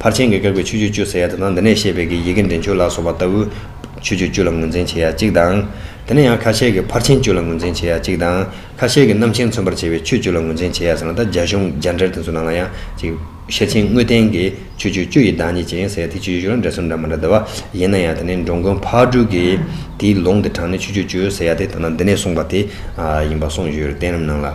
ཕར་ཕྱིན་གྱི་བཀག་པའི་ཆོས་སྤྱོད་བཅུ་ཟེར་ཡ་དེ་དང་དེ་ནས་བཤད་པའི་གི་ཡི་གེ་འདྲེན་ཆོས་ལ་སོགས་པ་ལྟ་བུ། ཆོས་སྤྱོད་བཅུ་ལ་ངོས་འཛིན་བྱེད་ཡ་གཅིག་དང། དེ་ནས་ཡང་ཁ་ཤས་ཀྱིས་ཕར་ཕྱིན་བཅུ་ལ་ངོས་འཛིན་བྱེད་ཡ་གཅིག་དང། ཁ་ཤས་ཀྱིས་རྣམ་མཁྱེན་མཚོན་པར་བྱེད་པའི་ཆོས་བཅུ་ལ་ངོས་འཛིན་བྱེད་ཡ་ཟེར་ན་ད་རྒྱ་གཞུང་རྒྱ་འགྲེལ་དེ་ཚོའི་ནང་ལ་ཡང་གཅིག། ཤེར་ཕྱིན་དངོས་བསྟན་གྱི་ཆོས་སྤྱོད་བཅུ་ཡི་བདག་ཉིད་ཅན་ཟེར་ཡ་དེ་ཆོས་སྤྱོད་བཅུ་ལ་འདྲ་ཟུར་འདྲ་མ་འདྲ་འདུ་བ་ཡིན་ན་ཡང་དེ་ནས་འགྲོ་མགོན་ཕག་གྲུས་ཀྱིས་དེའི་ལུང་དེ་དྲངས་ནས་ཆོས་སྤྱོད་བཅུ་ཟེར་ཡ་དེ་དང་དེ་ནས་གསུངས་པ་དེ་ཡིན་པ་གསུངས་ཡོད་རེད་བསྟན་རིམ་ནང་ལ།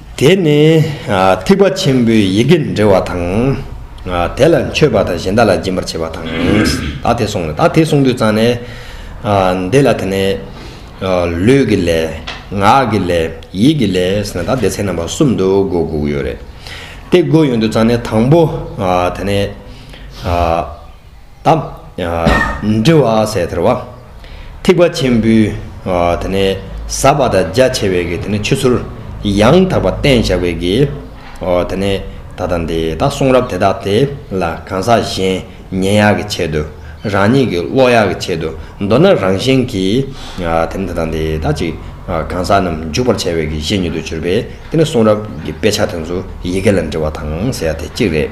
དེ་ནི་ཐེག་པ་ཆེན་པོའི་ཡི་གེ་འབྲི་བ་དང། དེ་ལ་མཆོད་པ་དང་གཞན་དག་ལ་སྦྱིན་པར་བྱེད་པ་དང། ད་དེ་གསུངས་ལ་ད་དེ་གསུངས་དུས་གཙང་ནས། འདི་ལ་དེ་ནས། ལུས་ཀྱི་ལས། ངག་གི་ལས། ཡིད་ཀྱི་ལས་ཟེར་ན་ད་དེ་ཚེག་རྣམ་པ་གསུམ་དུ་སྒོ་དགུ་ཡོད་རེད། དེ་སྒོ་ཡོད་དུས་གཙང་ནས་དང་པོ་དེ་ནས། དང། འདྲི་བ་ཟད་ཐལ་བ། ཐིགས་པ་ཆེན་པོའི། ཟ་བ་དང་རྒྱ་ཆེ་བའི་གྱི་ཆུ་ཚུར། ཡང་དག་པ་བསྟན་བཞག་པའི་གྱི། ད་དང་འདི་དག་གསུང་རབ་དེ་དག་དེ་ལ་གང་ཟག་གཞན་ཉན་ཡག་གི་ཆེད་དུ། རང་ཉིད་ཀྱི་བློ་ཡག་གི་ཆེད་དུ་མདོར་ན་རང་བཞིན་གྱི། ད་དང་འདི་དག་ཅིག་གང་ཟག་རྣམས་འཇུག་པར་བྱ་བའི་གྱི་བཤེས་གཉེན་དུ་གྱུར་པའི་དེ་ནི་གསུང་རབ་ཀྱི་དཔེ་ཆ་དེ་ཚོ་ཡི་གེ་ལ་འདྲི་བ་དང་ཟེར་བ་དེ་གཅིག་རེད།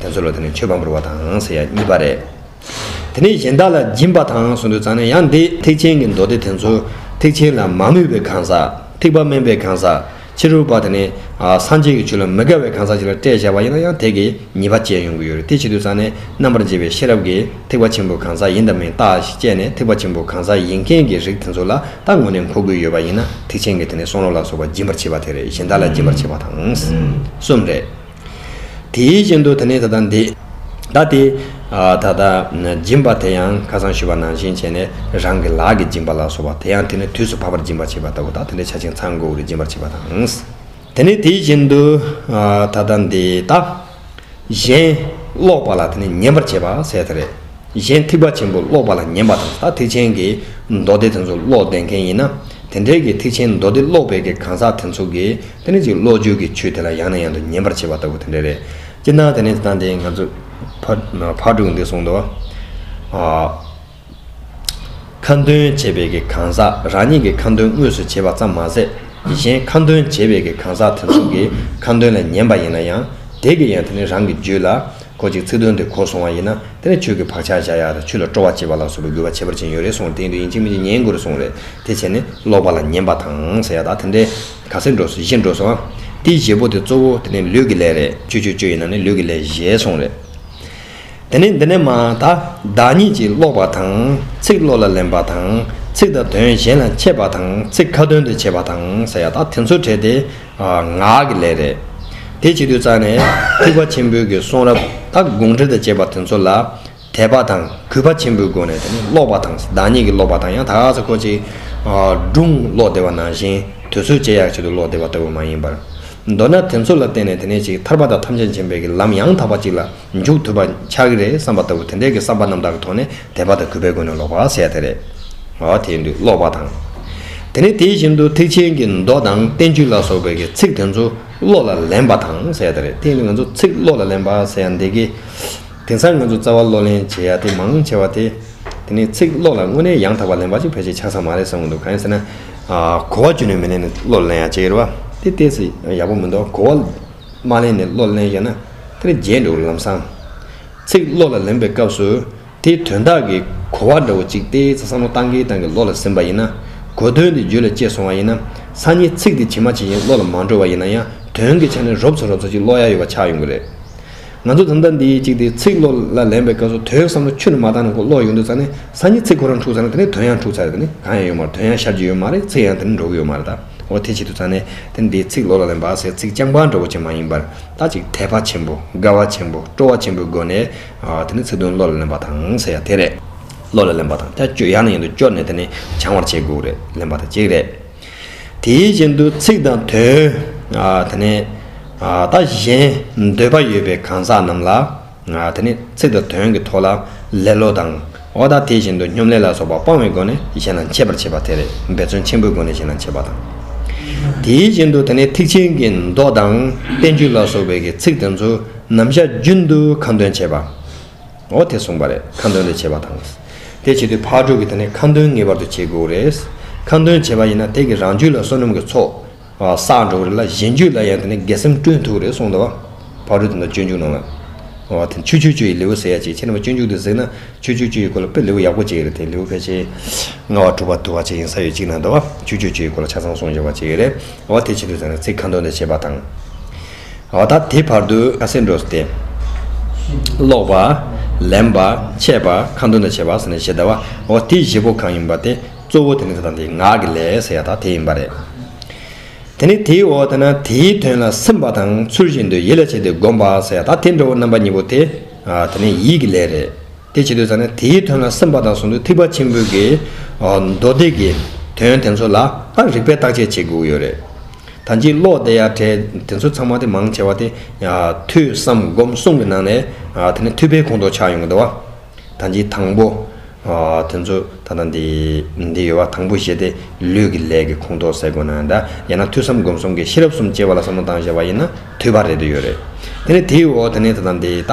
དེ་ཚོ་ལ་དེ་ནས་མཆོད་པ་འབུལ་བ་དང་ཟེར་ཡ་གཉིས་པ་རེད། དེ་ནས་གཞན་དག་ལ་སྦྱིན་པ་དང་སོགས་འདུལ་གཙང་ནས་ཡང་འདི་ཐེག་ཆེན་གྱི་མདོ་སྡེ་དེ་ཚོ་ཐེག་ཆེན་ལ་མ་མོས་པའི་གང་ཟག་ཐེག་པ་དམན་པའི་གང་ཟག་ཕྱི་རོལ་པ་དེ་ནས་སངས་རྒྱས་ཀྱི་ཆོས་ལ་མི་དགའ་བའི་གང་ཟག་ཅིག་ལ་སྤྲད་བྱ་བ་ཡིན་ན་ཡང་དེ་གི་ཉེས་པ་བཅད་ཡོང་གི་ཡོད་རེད་དེ་ཕྱིར་འདུལ་གཙང་ནས་རྣམ་པར་འབྱེད་པའི་ཤེས་རབ་ཀྱིས་ཐེག་པ་ཆེན་པོའི་གང་ཟག་ཡིན་དང་མིན་བརྟགས་ཞེས་དཔྱད་ནས་ཐེག་པ་ཆེན་པོའི་གང་ཟག་ཡིན་མཁན་གྱི་རིགས་དེ་ཚོ་ལ་བརྟགས་ངོ་ནས་མཁོ་དགོས་ཡོད་པ་ཡིན་ན་ཐེག་ཆེན་གྱི་དེ་ནས་གསུང་རོགས་ལ་སོགས་པ་སྦྱིན་པར་བྱེད་པ་དེ་རེད་གཞན་དག་ལ་སྦྱིན་པར་བྱེད་པ་དང་གསུམ་རེད། དེའི་རྐྱེན་དུ་དེ་ནས་ད་ལྟ་འདི། ད་དེ། ད་ལྟ། སྦྱིན་པ་དེ་ཡང་ཁ་སང་ཞུས་པ་ནང་བཞིན་བྱས་ནས་རང་གི་ལག་གིས་སྦྱིན་པ་ལ་སོགས་པ་དེ་ཡང་དེ་ནས་དུས་སུ་བབ་པར་སྦྱིན་པར་བྱེད་པ་ལྟ་བུ་དག་དེ་འདྲའི་ཆ་ཆིངས་ཚང་དགོས་དགོས་ཀྱི་སྦྱིན་པར་བྱེད་པ་དང། དེ་ནས་དེའི་རྐྱེན་དུ། ད་ལྟ་འདི། ད། གཞན། ཀློག་པ་ལ་དེ་ནས་ཉན་པར་བྱེད་པ་ཟད་དེ་རེད། གཞན་ཐིགས་པ་ཆེན་པོ་ཀློག་པ་ལ་ཉན་པ་དང་ད་ཐིགས་ཆེན་གྱི་མདོ་སྡེ་དེ་ཚོ་ཀློག་བདེ་མཁན་ཡིན་ན། དེ་འདྲའི་གི་ཐིགས་ཆེན་མདོ་སྡེ་ཀློག་པའི་གི་གང་ཟག་དེ་ཚོ་གི། དེ་ནི་གཅིག་བློ་བཅོས་ཀྱི་ཆོས་དེ་ལ་ཡང་ནས་ཡང་དུ་ཉན་པར་བྱེད་པ་ལྟ་བུ་དེ་འདྲ་རེད། སྤྱིར་ན་དེ་ནི་དེ་ལྟ་འདི་ང་ཚོས་ཕར་དྲུག་འདི་གསུངས་འདུག། ཁ་འདོན་བྱེད་པའི་གི་གང་ཟག་རང་ཉིད་ཀྱི་ཁ་འདོན་དངོས་སུ་བྱེད་པ་ཙམ་མ་ཟད་ཀྱི་གཞན་ཁ་འདོན་བྱེད་པའི་གི་གང་ཟག་དེ་ཚོ་གི་ཁ་འདོན་ལ་ཉན་པ་ཡིན་ན་ཡང་དེ་གི་ཡང་དེ་ནི་རང་གི་རྒྱུད་ལ་གོ་ཅིག་ཚིག་དོན་དེ་གོ་སོང་བ་ཡིན་ན་དེ་ནི་ཆོས་ཀྱི་བག་ཆགས་བྱ་ཡག་དང་ཆོས་ལ་སྤྲོ་བ་སྐྱེད་པ་ལ་སོགས་པའི་དགོས་པ་ཁྱད་པར་ཅན་ཡོད་རེད་གསུངས་དེ་ཡིན་དུས་ཡིན་གཅིག་མིན་གཅིག་ཉན་དགོས་རེད་གསུངས་རེད་དེ་བྱས་ནས་ལོག་པ་ལ་ཉན་པ་དང་ཟེར་ཡག་ད་དེ་འདྲའི། ག་སེར་འགྲོ་སོ་བཞི་འགྲོ་སོ་ཨ། དེའི་བཞེད་པོ་དེ་གཙོ་བོ་དེ་ནི་ལུས་ཀྱི་ལས་རེད་ཆོས་ཆོས་ཆོས་ཡིན་ན་ནི་ལུས་ཀྱི་ལས་གཞལ་སོང་རེད། དེ་ནས་འདི་ནས་མ་ད་བདག་ཉིད་ཀྱིས་ཀློག་པ་དང་ཚིག་བློ་ལ་ལེན་པ་དང་ཚིག་དང་དོན་གཞན་ལ་འཆད་པ་དང་ཚིག་ཁ་ཏོན་དུ་བྱེད་པ་དང་ཟེར་ཡ་ད་དེ་ཚོ་བྲལ་ཏེ་ངག་གི་ལས་རེད། དེ་བྱེད་དུས་རྩ་ནས་ཐེག་པ་ཆེན་པོའི་གི་གསུང་རབ་དང་དགོངས་འགྲེལ་དང་བཅས་པ་དེ་ཚོ་ལ། དད་པ་དང་གུས་པ་ཆེན་པོའི་སྒོ་ནས་དེ་ནི་ཀློག་པ་དང་བདག་ཉིད་ཀྱིས་ཀློག་པ་དང་ཡང་དག་པར་གོ་ཅིག། སྒྲུང་ཀློག་བདེ་བ་ནང་བཞིན་དུས་ཚོད་སྤྱད་ཡག་བྱེད་དུ་ཀློག་བདེ་བ་ལྟ་བུ་མ་ཡིན་པར། མདོར་ན་དེ་ཚོ་ལ་བརྟེན་ནས་དེ་ནས་ཅིག་ཐར་པ་དང་ཐམས་ཅད་མཁྱེན་པའི་གི་ལམ་ཡང་དག་པ་ཅིག་ལ་འཇུག་ཐུབ་པ་ཆགས་ཀྱི་རེད་བསམ་པ་ལྟ་བུ་དེ་འདྲའི་གི་བསམ་པ་རྣམ་དག་གི་ཐོག་ནས་དད་པ་དང་གུས་པའི་སྒོ་ནས་ཀློག་པ་ཟེར་ཡ་དེ་རེད། འོ་དེ་ཡིན་དུས་ཀློག་པ་དང། དེ་ནས་དེ་བཞིན་དུ་ཐེག་ཆེན་གྱི་མདོ་དང་བསྟན་བཅོས་ལ་སོགས་པའི་གི་ཚིག་དེ་ཚོ་བློ་ལ་ལེན་པ་དང་ཟེར་ཡ་དེ་རེད་དེ་ཡིན་དུས་ང་ཚོ་ཚིག་བློ་ལ་ལེན་པ་ཟེར་ཡ་འདི་གི། དེང་སང་ང་ཚོ་རྩ་བ་བློ་ལེན་བྱེད་ཡག་དེ་མང་ཆེ་བ་དེ། དེ་ནི་ཚིག་བློ་ལ་དངོས་གནས་ཡང་དག་པར་ལེན་པ་ཅིག་ཕལ་ཆེར་ཆགས་ས་མ་རེད་བསམ་གྱི་འདུག་གང་ཡིན་ཟེར་ན། གོ་བ་ཅུང་ནས་མི་ལེན་ནས་བློ་ལ་ལེན་ཡག་བྱེད་ཀྱི་རེད་བ། དེ་ལྟས་ཚེ་ཡག་པོ་མི་འདུག་གོ་བ་མ་ལེན་ནས་བློ་ལ་ལེན་ཞེ་ན། དེ་ནི་རྗེས་འགྲོ་གི་ལམ་སང། ཚིག་བློ་ལ་ལེན་པའི་སྐབས་སུ། དེའི་དོན་དག་གི་གོ་བ་འདྲ་བོ་ཅིག་ལྟས་ཚེ་བསམ་བློ་བཏང་གིན་བཏང་གིན་བློ་ལ་ཟིན་པ་ཡིན་ན། གོ་དོན་དེ་རྒྱུད་ལ་སྐྱེས་སོང་བ་ཡིན་ན། སང་ཉིན་ཚིག་དེ་ཇི་མ་ཇི་བཞིན་བློ་ལ་མ་འགྲོ་བ་ཡིན་ན་ཡང་དོན་གྱི་ཆ་ནས་རོབ་ཚོ་རོབ་ཚོ་ཅིག་བློ་ཡག་ཡོད་པ་ཆགས་ཡོང་གི་རེད། ང་ཚོ་གདམ་ཐ་འདི་ཡིས་གཅིག་དེ་ཚིག་བློ་ལ་ལེན་པའི་སྐབས་སུ་དོའི་བསམ་བློ་ཆུ་ནི་མ་བཏང་ན་གོ་བློ་ཡོང་དུས་ཚར་ནས་ས་ཉིད་ཚིག་ཁོ་རང་འཁྲུག་ཚར་ན་དེ་ནས་དོན་ཡང་འཁྲུག་ཚར་དེ་ནི་གང་ཡང་ཡོད་མ་རེད་དོན་ཡང་ཤར་གྱི་ཡོད་མ་རེད་ཚིག་ཡང་དེ་ནས་འགྲོ་གི་ཡོད་མ་རེད་ད་འོ་དེ་བྱེད་དུས་ཚར་ནས་དེ་ནི་འདིའི་ཚིག་བློ་ལ་ལེན་པ་ཟེར་ཚིག་རྐྱང་པ་འདྲ་བོ་ཅན་མ་ཡིན་པར་ད་ཅིག་དད་པ་ཆེན་པོ་དགའ་བ་ཆེན་པོ་སྤྲོ་བ་ཆེན་པོའི་སྒོ་ནས་དེ་ནི་ཚིག་དོན་བློ་ལ་ལེན་པ་དང་ཟེར་ཡ་དེ་རེད། བློ་ལ་ལེན་པ་དང་ཐལ་སྤྱོད་ཡང་ནས་ཡང་དུ་སྤྱོད་ནས་དེ་ནི་བྱང་བར་བྱེད་དགོས་རེད་ལེན་པ་དང་གཅིག་རེད། དེའི་རྐྱེན་དུ་ཚིག་དང་དོན། དེ་ནས། ད་གཞན། འདོད་པ་ཡོད་པའི་གང་ཟག་རྣམས་ལ། དེ་ནས་ཚིག་དང་དོན་གྱི་ཐོག་ལ། ལེ་ལོ་དང། འོ་ད་དེ་བཞིན་དུ་སྙོམ་ལས་ལ་སོགས་པ་སྤང་བའི་སྒོ་ནས་གཞན་ལ་འཆད་པར་བྱེད་པ་དེ་རེད་འབད་བརྩོན་ཆེན་པོའི་སྒོ་ནས་གཞན་ལ་འཆད་པ་དང། དེའི་རྐྱེན་དུ་དེ་ནས་ཐེག་ཆེན་གྱི་མདོ་དང། བསྟན་བཅོས་ལ་སོགས་པའི་ཚིག་དེ་ཚོ་ནམ་ཞག་རྒྱུན་དུ་གང་དོན་འཆད་པ། འོ་དེ་གསུངས་པ་རེད་ཁ་འདོན་ལས་བྱེད་པ་དང། དེ་བྱེད་དུས་ཕར་འགྲོ་གི་དེ་ནས་ཁ་འདོན་ངེས་པར་དུ་བྱེད་དགོས་རེད། ཁ་འདོན་བྱས་པ་ཡིན་ན་དེ་གིས་རང་རྒྱུད་ལ་བསོད་ནམས་ཀྱི་ཚོགས་བསགས་འགྲོ་གི་རེད་ལ་གཞན་རྒྱུད་ལ་ཡང་དེ་ནས་དགེ་སེམས་བསྐྲུན་ཐུབ་རེད་གསུངས་དང། ཕར་འགྲོ་དེ་འདྲ་སྤྱོད་འཇུག་ནང་ལ། འོ་དེ་ཆུ་ཆུ་ཆུ་ཡི་ལེའུ་ཟེར་ཡ་གཅིག་ཁྱེད་རྣམ་པ་སྤྱོད་འཇུག་དུ་གཟིགས་ན་ཆུ་ཆུ་ཆུ་ཡི་སྐོར་ལ་དཔེ་ལེའུ་ཡག་པོ་གཅིག་རེད་དེ་ལེའུ་ཕལ་ཆེར། ལྔ་བ་དྲུག་བ་དུ་བ་ཆ་ཡིན་ས་ཡོད་གཅིག་ནང་དུ། ཆུ་ཆུ་ཆུ་ཡི་སྐོར་ལ་ཆ་ཚང་གསུངས་ཡོད་པ་གཅིག་རེད། འོ་དེ་བྱེད་དུས་ཟེར་ན་ཚིག་ཁ་འདོན་ལས་བྱེད་པ་དང། འོ་ད་དེ་བར་དུ་ཁ་སེར་འགྲོ་སྟེ། ཀློག་པ། ལེན་པ། འཆད་པ། ཁ་འདོན་དང་བྱེད་པ། ཞེས་བྱ་བ། འོ་དེའི་བཞི་པོ་གང་ཡིན་པ་དེ་གཙོ་བོ་དེ་ནི་ཚེ་དང་དེའི་ངག་གི་ལས་ཟེར་ཡ་དག་དེ་ཡིན་པ་རེད། དེ་ནི་དེའི་འོ་དེ་ན་དེའི་དོན་ལ་སེམས་པ་དང་ཚུལ་བཞིན་དུ་ཡིད་ལ་བྱས་ཏེ་བསྒོམ་པ་ཟེར་ཡ་དག་དེ་འདྲ་བོ་རྣམ་པ་གཉིས་པོ་དེ་དེ་ནི་ཡིད་ཀྱི་ལས་རེད། དེ་བྱེད་དུ་ཟ་ན་དེའི་དོན་ལ་སེམས་དཔའ་དང་ཟུང་དུ་ཐིགས་པ་ཆེན་པོའི་གེགས། མདོ་སྡེ་གི་དོན་དེ་ཚོ་ལ་ཨ་རིག་པས་བརྟག་དཔྱད་བྱེད་དགོས་ཡོད་རེད། ད་ཕྱིན་ལོག་ལྟ་ཡ་བྲལ་དེ་ཚོ་ཚང་མ་དེ་མང་ཆེ་བ་དེ། ཐོས་བསམ་སྒོམ་གསུམ་གྱི་ནང་ནས་དེ་ནི་ཐོས་པའི་ཁོང་དུ་ཆགས་ཡོང་གི་འདུག་བ། ད་ཕྱིན་དང་པོ། དེ་ཚོ་ད་ལྟ་འདི་འདི་ཡོད་བ་དང་པོ་བཞི་དེ་ལུས་ཀྱི་ལས་ཀྱི་ཁོང་དུ་ཟད་དགོས་ན་འདྲ་ཡང་ན་ཐོས་བསམ་སྒོམ་གསུམ་གྱི་ཤེས་རབ་གསུམ་སྐྱེ་བ་ལ་བསམ་བློ་བཏང་བཞག་པ་ཡིན་ན་ཐོས་པ་རེད་དུ་ཡོད་རེད། དེ་ནི་དེའི་འོག་དེ་ནི་ད་ལྟ་འདི་ད།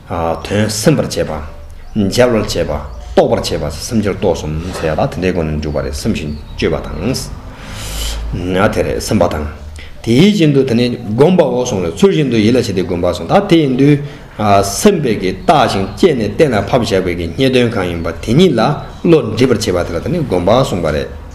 དོན་སེམས་པར་བྱེད་པ། འཇལ་བར་བྱེད་པ། རྟོགས་པར་བྱེད་པ། སེམས་སྦྱོར་རྟོགས་གསུམ་ཟེར་ཡ་ད་དེ་འདྲའི་སྒོ་ནས་འཇུག་པ་རེད་བསམ་ཞིང་དཔྱོད་པ་དང། དེ་རེད་སེམས་པ་དང། དེའི་རྐྱེན་དུ་དེ་ནི་བསྒོམ་པ་འོག་སོང་བས་ཚུལ་བཞིན་དུ་ཡིད་ལ་བྱེད་དེ་བསྒོམ་པ་སོང་ད་དེ་ཡིན་དུས། སེམས་དཔས་ཀྱིས་བརྟགས་ཤིང་དཔྱད་ནས་གཏན་ལ་ཕབ་བཞག་པས་ཀྱི་རྙེད་དོན་གང་ཡིན་པ་དེ་ཉིད་ལ་བློ་འདྲིས་པར་བྱེད་པ་དེ་ལ་དེ་ནི་བསྒོམ་པ་གསུངས་པ་རེད།